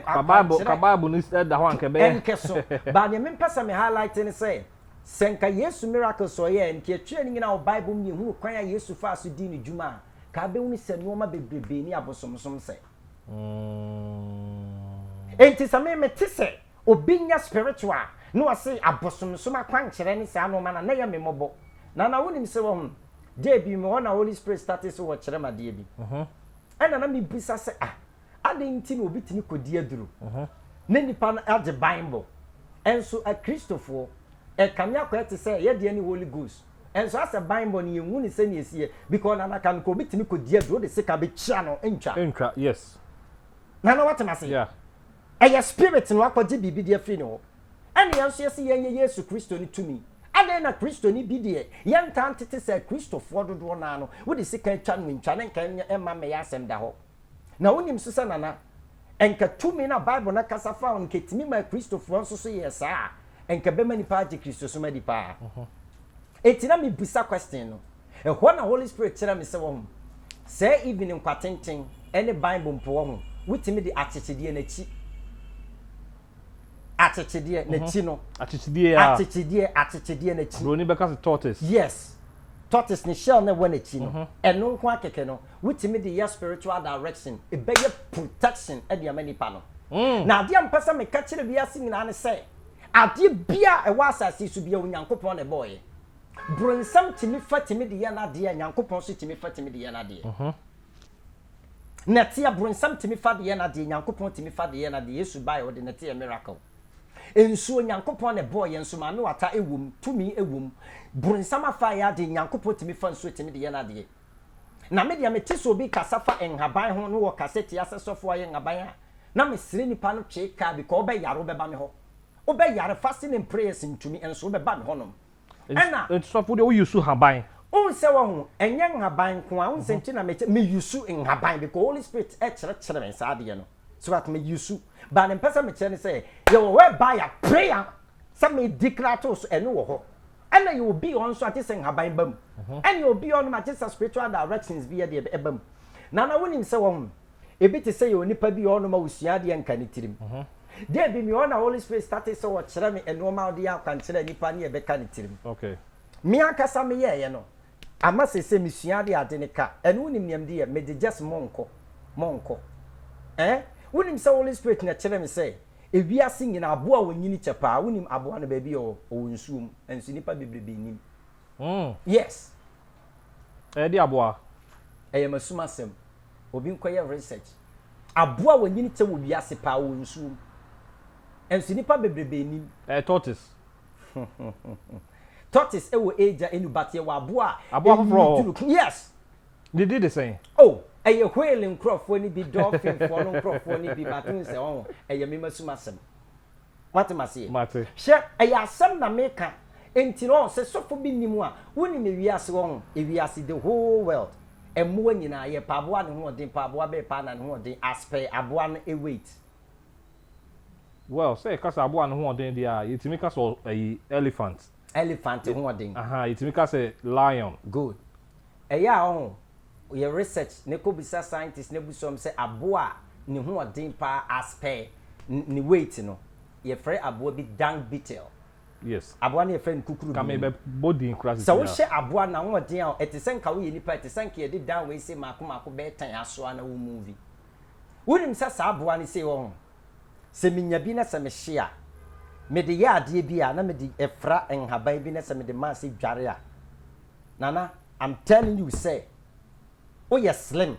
S3: Ka Bible ka
S1: Bible
S3: no da hɔ anka ɛbɛyɛ.
S1: Ɛnkɛ
S3: so. But deɛ
S1: mempɛ
S3: sɛ me highlight ne
S1: sɛ,
S3: sɛ nka Yesu miracles a ɔyɛɛ, nka ɛtwerɛ no nyinaa wɔ Bible mu na yɛhunu kwan a Yesu faa so dii ne dwuma a, nka abɛhunu sɛ nnoɔma bebrebee ne abosomsom sɛ. Enti sɛ me mete sɛ obi nyɛ spiritual a, na wɔse abosomsom akwankyerɛ ne saa nnoɔma no a, na ɛyɛ me mmɔbɔ. Nana wonim sɛ, wahunu, da bi mewɔ hɔ na Holy Spirit startee sɛ ɔkyerɛ me adeɛ bi. ɛna na mebisa sɛ ah adɛn nti na obi tumi kɔdi aduru na nnipa no agye bible ɛnso akristofoɔ ɛkame akɔ ɛte sɛ yɛdeɛ ne holy ghost ɛnso asɛ bible no yɛnhu ne sɛne ɛsiɛ because na naka no kɔ obi tumi kɔdi aduru wode sika bɛkyia no ntwa ntwa yes
S1: nana
S3: watem ase yeah. ɛyɛ
S1: spirit
S3: no akɔgye biribi de afiri ne hɔ Ɛne yɛn nso yɛse yɛnyɛ Yesu Kristo no tumi. Adɛn na Kristoni bi deɛ yɛntaa ntete sɛ Kristofoɔ dodoɔ no ara no wode sika atwa no ntwa na nka ɛnyɛ mma mmɛyɛ asɛm da hɔ? Na wonim nso sɛ Nana, nka tumi no a Bible no kasa fa ho no nka ɛtumi maa Kristofoɔ nso so yɛɛ saa a, nka ɛbɛma nnipa agye Kristosom adi paa. Enti na mebisa question no, ɛhɔ na Holy Spirit kyerɛɛ me sɛ, Wahu, saa even nkwatenten ne Bible mpo, wahu, wotumi de akyekyedeɛ no akyi. akyekyedeɛ mhm. n'akyi no akyekyedeɛ a akyekyedeɛ akyekyedeɛ n'akyi buroni bɛka sɛ tortoise
S1: yes
S3: tortoise ne shell na ɛwɔ n'akyi no mhm. ɛno nko akɛkɛ no wotumi de yɛ spiritual direction ɛbɛyɛ protection ɛde ama nipa no mm. na adeɛ mpɛ sɛ meka kyerɛ wiase nyinaa ne sɛ adeɛ bia ɛwɔ asase so bia onyankopɔn na ɛbɔɔyɛ boronsam tumi fa tumi de yɛ n'adeɛ nyankopɔn so tumi fa tumi de yɛ n'adeɛ mhm. Nɛteɛ bronsam tumi fa de yɛ nadeɛ Nyankopɔn tumi fa de yɛ nadeɛ Yesu baɛ ɔde nɛteɛ yɛ miracle Nsuo Nyankopɔn na ɛbɔɔ yɛ nso maame wata ɛwom tumi ɛwom Bronsam afa ayɛ adeɛ Nyankopɔn tumi fa nsuo tumi de yɛ nadeɛ Na me deɛ me te sɛ obi kasa fa nhaban ho na wɔ ka sɛ tia sɛ sɔfo ayɛ nhaban a na me srɛ nipa no twee kaa because wobɛ yare wobɛba me hɔ wobɛ yare fasting and prayers ntumi nso wobɛba me hɔ nom Ɛna. Nti sɔfo deɛ wo use
S1: nhaban. Wohu sɛ wahu
S3: ɛnyɛ nhaban nko ara wohu sɛ nti na mekyɛ me use nhaban because holy spirit ɛkyerɛkyerɛ me saa adeɛ no so what me use but ne mpɛ sɛ mekyerɛ ne sɛ yɛwɔ hɔ ɛba ya prayer sɛ me di kra to so ɛno wɔ hɔ ɛna yɛ obi hɔ nso agye sɛ nhaban ba mu ɛne obi hɔ nom agye sɛ spiritual directions bi yɛ deɛ ɛba mu nana wonim sɛ wahu Ebi te sɛ yɛ onipa bi wɔ hɔnom a osua adeɛ nka ne tirim. Da bi me hɔ na Holy Spirit startee sɛ ɔkyerɛ me nnoɔma a ɔde yɛ akwankyerɛ a nipa ne ɛbɛka ne tirim. Me
S1: ankasa
S3: me yɛɛyɛ no ama seesei me sua adeɛ a ade no ka. Ɛno wonim nea mede yɛ? Mede just monkɔ, monkɔ. Ɛɛ? Wonim sɛ Holy Spirit na ɛkyerɛɛ me sɛ ewiase nyinaa aboa a ɔnyini kyɛ paa, wonim aboa no baabi a ɔwɔ? Ɔwɔ nsuo mu. Nanso nnipa bebrebe nnim. Yes.
S1: Ɛyɛ de aboa? Ɛyɛ m'asumasɛm.
S3: obi nkɔyɛ research. Aboa a wɔnyini tɛ wɔ wiase paa wɔ nsuo mu. Nso nnipa bebrebe nnim. Ɛyɛ tortoise. Tortoise wɔ agya ɛnu but yɛwɔ aboa a. Aboa foforɔ wɔ hɔ.
S1: Yes.
S3: Ne di de
S1: sɛn? Oh, ɛyɛ whale
S3: nkorɔfoɔ no bi, dolphin foɔ no nkorɔfoɔ no bi but wohu sɛ ɔho ɛyɛ mema sum asɛm. Moate me aseɛ? Mate. Hwɛ, ɛyɛ asɛm na meka, enti no, sɛ sɔfo bi nnim a, wonim ewiase hɔ ho, ewiase, the whole world, mmoa nyinaa, yɛ pɛ aboa ne ho ɔden paa, aboa bɛɛ paa na ne ho ɔden as per aboa no weight. Well,
S1: sɛ yɛka sɛ aboa ne ho ɔden deɛ a, yɛtumi ka sɛ ɔ, ayi, elephant. Elephant ho
S3: ɔden. Ahaa yɛtumi ka sɛ
S1: lion. Good.
S3: Ɛyɛ a ɔho yɛ research ne kɔ bisa scientist ne abusua mu sɛ aboa a ne ho ɔden paa as per ne weight no yɛfrɛ aboa bi dung beetle. Yes. Aboa
S1: no yɛfrɛ no kukuru
S3: dum. Ka me bɛ bɔ din
S1: kora sisi a. Sɛ wo hyɛ aboa na
S3: ho ɔden a ɛte sɛ nka wo yɛ nipa ɛte sɛ nka yɛde dung wei sei maako maako bɛɛ tɛn asoa na wo movie. Wo nim sɛ saa aboa no sei ɔho Sɛ menya bi na sɛ mehye a, mede yɛ adeɛ bi a na mede fra nhaban bi na sɛ mede ma sɛ dware a, Nana, I'm telling you sɛ woyɛ slim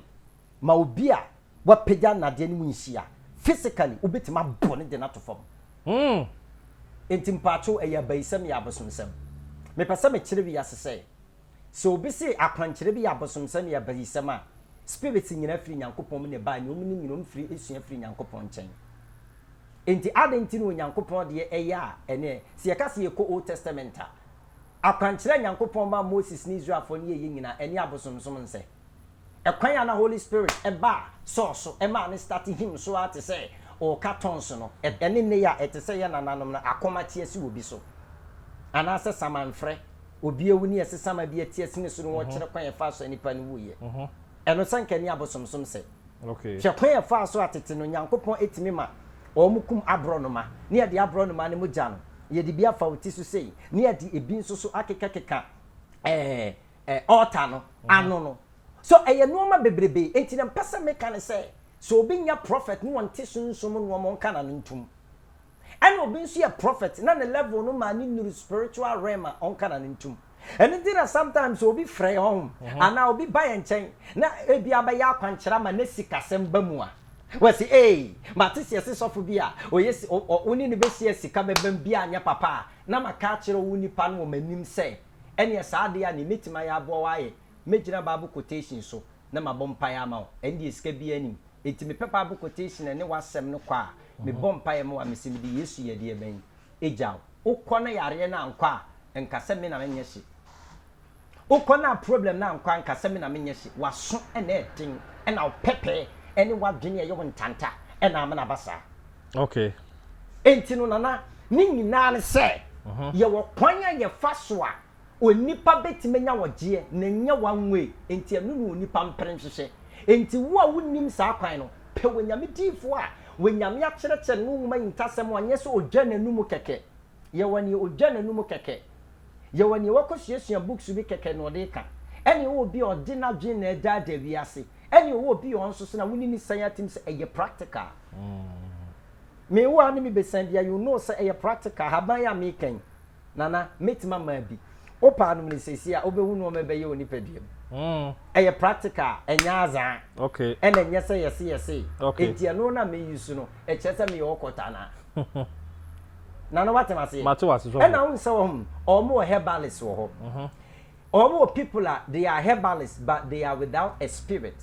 S3: ma obi a wapagya nnadeɛ no mu nhyia physically wobɛtumi abɔ no de no ato fam hmm Enti mpaakyew ɛyɛ abayisɛm yɛ abosomsɛm? Mepɛ sɛ mekyerɛ wiase sɛ Sɛ obi se akwankyerɛ bi yɛ abosomsɛm yɛ abayisɛm a, spirits nyinaa firi Nyankopɔn mu na ɛbae na wɔn ne nyinaa wɔn firi sua firi Nyankopɔn nkyɛn. Enti adɛn nti na Onyankopɔn deɛ yɛ a ɛneɛ? Sɛ yɛka sɛ yɛkɔ Old Testament a, akwankyerɛ a Nyankopɔn maa Moses ne Israelfoɔ no yɛeɛ nyinaa, ɛneɛ abosomsom nsɛ? Ɛkwan a na Holy Spirit baa Saul so maa no start him so ara te sɛ ɔreka tongues no, ɛne nnɛ yi a ɛte sɛ yɛn nananom no akoma te asi obi so, anaasɛ samanfrɛ, obi awu ne yɛse sama bi ati asi ne so ne wɔkyerɛ kwan a ɛfaa so a nipa no wuiɛ. Ɛno sɛ anka ɛne abosomsom sɛ. Hwɛ kwan a
S1: ɛfaa so a
S3: tete no Nyankopɔn tumi ma wɔkum aborɔnoma ne yɛde aborɔnoma no mogya no yɛde bi afa wo ti so sei ne yɛde ebi nso so akekakeka ɛɛ, Altar no ano no. So ɛyɛ nnoɔma bebrebe. Enti deɛ mpɛ sɛ meka ne sɛ, sɛ obi nyɛ Prophet na ɔnte Sunsum mu nnoɔma ɔnka n'ano ntom. Ɛna obi nso yɛ Prophet na ne level no maa no nnuru spiritual realm a, ɔnka n'ano ntom. Ɛno nti na sometimes sɛ obi frɛ yɛn hɔnom anaa obi ba yɛn nkyɛn na ebi a bɛyɛ akwankyerɛ ama na sikasɛm ba mu a, wasi ee, mate sɛ yɛse sɔfo bi a ɔyɛ si, ɔ, ɔ, wo ne no bɛhyia a sika bɛbam bi a nyɛ papa a, na maka akyerɛ wo nipa no wɔ m'anim sɛ, Ɛnneɛ saa adeɛ a nea mɛtumi ayɛ aboa wo ara yɛ mɛgyina Bible quotation so na mabɔ mpaeɛ ama wo. Ɛno deɛ sika biara nnim. Enti mepɛ Bible quotation a ɛne w'asɛm no kɔ a, mebɔ mpaeɛ ma wo a mese mede Yesu yɛ deɛ bɛn? Gya wo. Wokɔ na yareɛ no ankɔ a, nka sɛ me na menyɛ hye. Wokɔ na problem no ankɔ a, nka sɛ me na menyɛ hye. W'aso na ɛyɛ den, ɛna wo pɛpɛ ne w'adwene a ɛyɛ wo ntanta na ama no aba saa. Okay.
S1: Enti
S3: no Nana, ne nyinaa ne sɛ yɛwɔ kwan a yɛfa so a onipa bɛtumi anya ɔgyeɛ na ɛnyɛ one way, enti ɛno na onipa mpere nhwehwɛ. Enti wo a wonnim saa kwan no, pɛ Onyame diyifoɔ a Onyame akyerɛkyerɛ no ne wo nwoma yi ntasɛm a ɔnyɛ sɛ ɔdwa n'anum kɛkɛ. Yɛwɔ nea ogya n'anom kɛkɛ. Yɛwɔ nea wakosuasua books bi kɛkɛ na ɔde reka. Ɛne ɔwɔ obi a ɔde n'adwene na ɛredaadaa wiase. Ɛne ɔwɔ obi a ɔno nso so na wone no san atim sɛ ɛyɛ practical. Me wo a ne me bɛsan bia you know sɛ ɛyɛ practical. Ahaban yi a mereka yi, Nana, mɛtumi ama abi. Wopɛ a nom no seesei a wobɛhu nnoɔma a ɛbɛyɛ wo nipadua mu. Ɛyɛ practical, ɛnyɛ azaa. Ɛna ɛnyɛ
S1: sɛ yɛse
S3: yɛse. Enti ɛno na
S1: me use
S3: no. Ɛkyerɛ sɛ meyɛ ɔkɔtɔ anaa? na no wate wase mate wase so ɛna won sɛ
S1: wɔn
S3: wɔn wɔ herbalist wɔ hɔ wɔn wɔ people a they are herbalist but they are without a spirit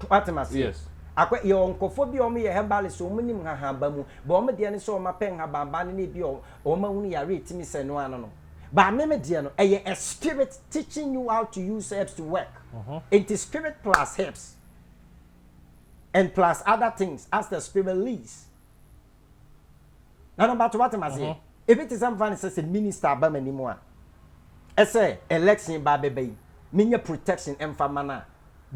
S3: wate wase yes akɔ yɛ wɔn
S1: nkɔfo
S3: bi wɔn yɛ herbalist wɔn nim nhahanba mu ba wɔn deɛ no sɛ wɔn apɛ nhabanba no ne bi wɔn ahunu yare etimi sɛ no ano no ba meme deɛ no ɛyɛ a spirit teaching you how to use herbs to work nti spirit plus herbs and plus other things as the spirit leads. na no bato wate maseɛ mm-hmm. ebi te sɛ mfa no sɛ sɛ minister aba m'anim a ɛsɛ election ba bɛba yi menyɛ protection mfa ma no a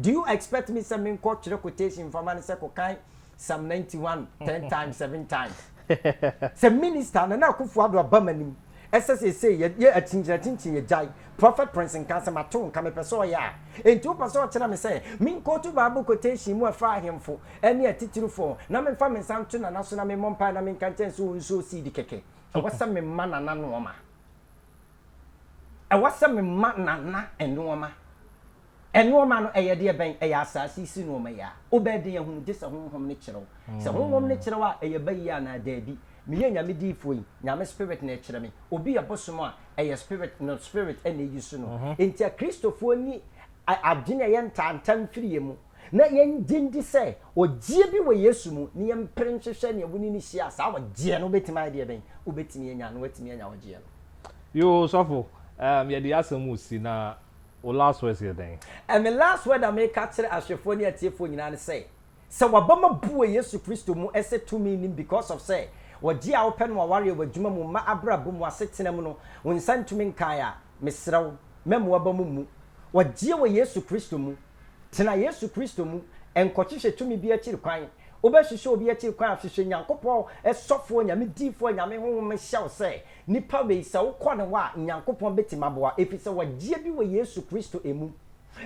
S3: do you expect me sɛ menkɔ twerɛ quotation mfa ma no sɛ kɔkan psalm 91 10 times 7 times sɛ minister nana akufo ado aba m'anim Ɛsɛ seesei yɛ yɛ akyinkyinakyinkyin yɛ gyae. Prɔfɛt Prince nka sɛ mato nka mepɛ sɛ ɔyɛ a. Enti wopɛ sɛ ɔkyerɛ me sɛ menkootu Bible quotation mu ɛfa ahemfo ne atitirifoɔ ho na memfa me nsa nto Nana so na memmɔ mpaeɛ na menka nkyerɛ no sɛ ɔnsow seed kɛkɛ? Ɛwɔ sɛ mema Nana nnoɔma. Ɛwɔ sɛ mema Nana nnoɔma. Nnoɔma no yɛ deɛ bɛn? Ɛyɛ asaase yi so nnoɔma yi a wobɛyɛ den ahunu gye sɛ Honhom no kyerɛ wo. Sɛ Honhom no kyerɛ wo a, ɛyɛ ba yie anaa daabi? Meyɛ Nyame diifoɔ yi, Nyame Spirit na ɛkyerɛ me. Obi yɛ bosom a, ɛyɛ Spirit no Spirit na ɛyusu no. Enti Akristofoɔ nni adwene a ɛyɛ ntaantamm mfiri yɛn mu, na yɛngye ndi sɛ ɔgyeɛ bi wɔ Yesu mu, na yɛmpere nhwehwɛ nea wo ne no hyia a saa ɔgyeɛ no wobɛtumi ayɛ deɛ bɛn? Wobɛtumi anya no, woatumi anya ɔgyeɛ no. Yoo sɔfo,
S1: yɛde yɛn asɛm resi na Wo last words yɛ dɛn? Ɛ Me last word
S3: a meka akyerɛ ahwɛfoɔ ne atiefoɔ nyinaa ne sɛ, sɛ w'abam abu wɔ Yesu Kristo mu sɛ tumi nnim because of sɛ wɔgye a wopɛ no w'awareɛ, w'adwuma mu, mma abrabɔ mu, w'asetena mu no, wo nsa ntumi nkaeɛ a, mesrɛ wo, mma mu w'abam mmu. Wɔgyeɛ wɔ Yesu Kristo mu. Tena Yesu Kristo mu. Nkɔhwehwɛ tumi bi akyiri kwan. Wobɛhwehwɛ obi akyiri kwan a, hwehwɛ Nyankopɔn sɔfoɔ, Nyame diifoɔ, Nyame Honhom hyɛ wo sɛ Nipa wei sɛ wokɔ ne hɔ a Nyankopɔn bɛtim aboa ɛfisɛ wagyeɛ bi wɔ Yesu Kristo ɛmu.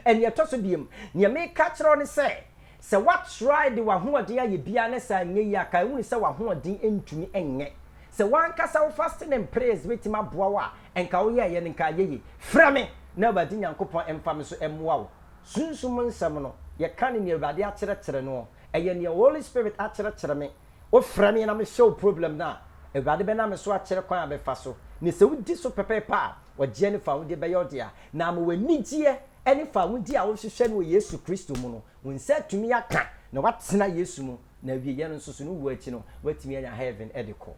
S3: Ɛneɛ ɛtɔ so biom, neɛ meka akyerɛ wo ne sɛ, sɛ wa try de wahoɔden ayɛ biaa na saa nyɛ yie a, kae hunu sɛ wahoɔden ntumi nyɛ. Sɛ wankasa wo fasting and prayers bɛtim aboa wo a, nka wo yɛɛyɛ no nka ayɛ yie. Frɛ me na Awurade Nyankopɔn mfa me so mmoa wo. Sunsum nsɛm no, yɛka no neɛ Awurade akyerɛkyerɛ noɔ. Ɛyɛ neɛ Holy Spirit akyerɛkyerɛ me Wofrɛ me na mehyɛ wo problem no a, Awurade bɛnam me so akyerɛ kwan a bɛfa so, ne sɛ wodi so pɛpɛɛpɛ a, ɔgyeɛ ne fawodeɛ bɛyɛ wo dea. Na ama w'anigyeɛ ne fawodeɛ a wohwehwɛ no wɔ Yesu Kristo mu no, wo nsa atumi aka na woatena Yesu mu, na awieɛ no nso so no wuo akyi no, woatumi anya Heaven de kɔ.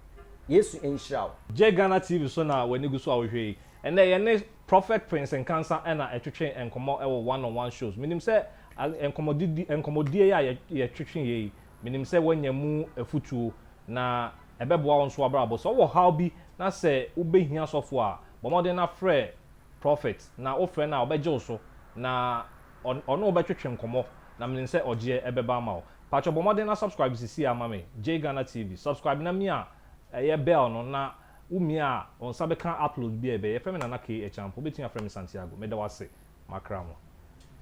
S3: Yesu nhyira wo. Gye Ghana TV
S1: so na w'ani gu so a wohwɛ yi. Ɛnnɛ, yɛne Prophet Prince Nkansah na ɛtwetwe nkɔmmɔ wɔ One on One Shows. Menim sɛ nkɔmmɔdidi, nkɔmmɔdie yi a yɛtwetweeɛ yi, Menim sɛ woanya mu afutuo, na ɛbɛboa wo nso w'abrabɔ. Sɛ wowɔ haw bi na sɛ wobɛhia sɔfoɔ a, bɔ mmɔden na frɛ Prophet, na wofrɛ no a ɔbɛgye wo so, na ɔne wo bɛtwetwe nkɔmmɔ, na menim sɛ ɔgyeɛ ɛbɛba ama wo. Pakyɛ bɔ mmɔden na subscribe sesie ara ma me, JGhana TV. Subscribe na mia ɛyɛ bell no, na wo mia a, wo nsa bɛka upload biara a ɛbɛyɛ. Yɛfrɛ me Nana K. Achampo, wobɛtumi afrɛ me Santiago. Meda wo ase, makra mo.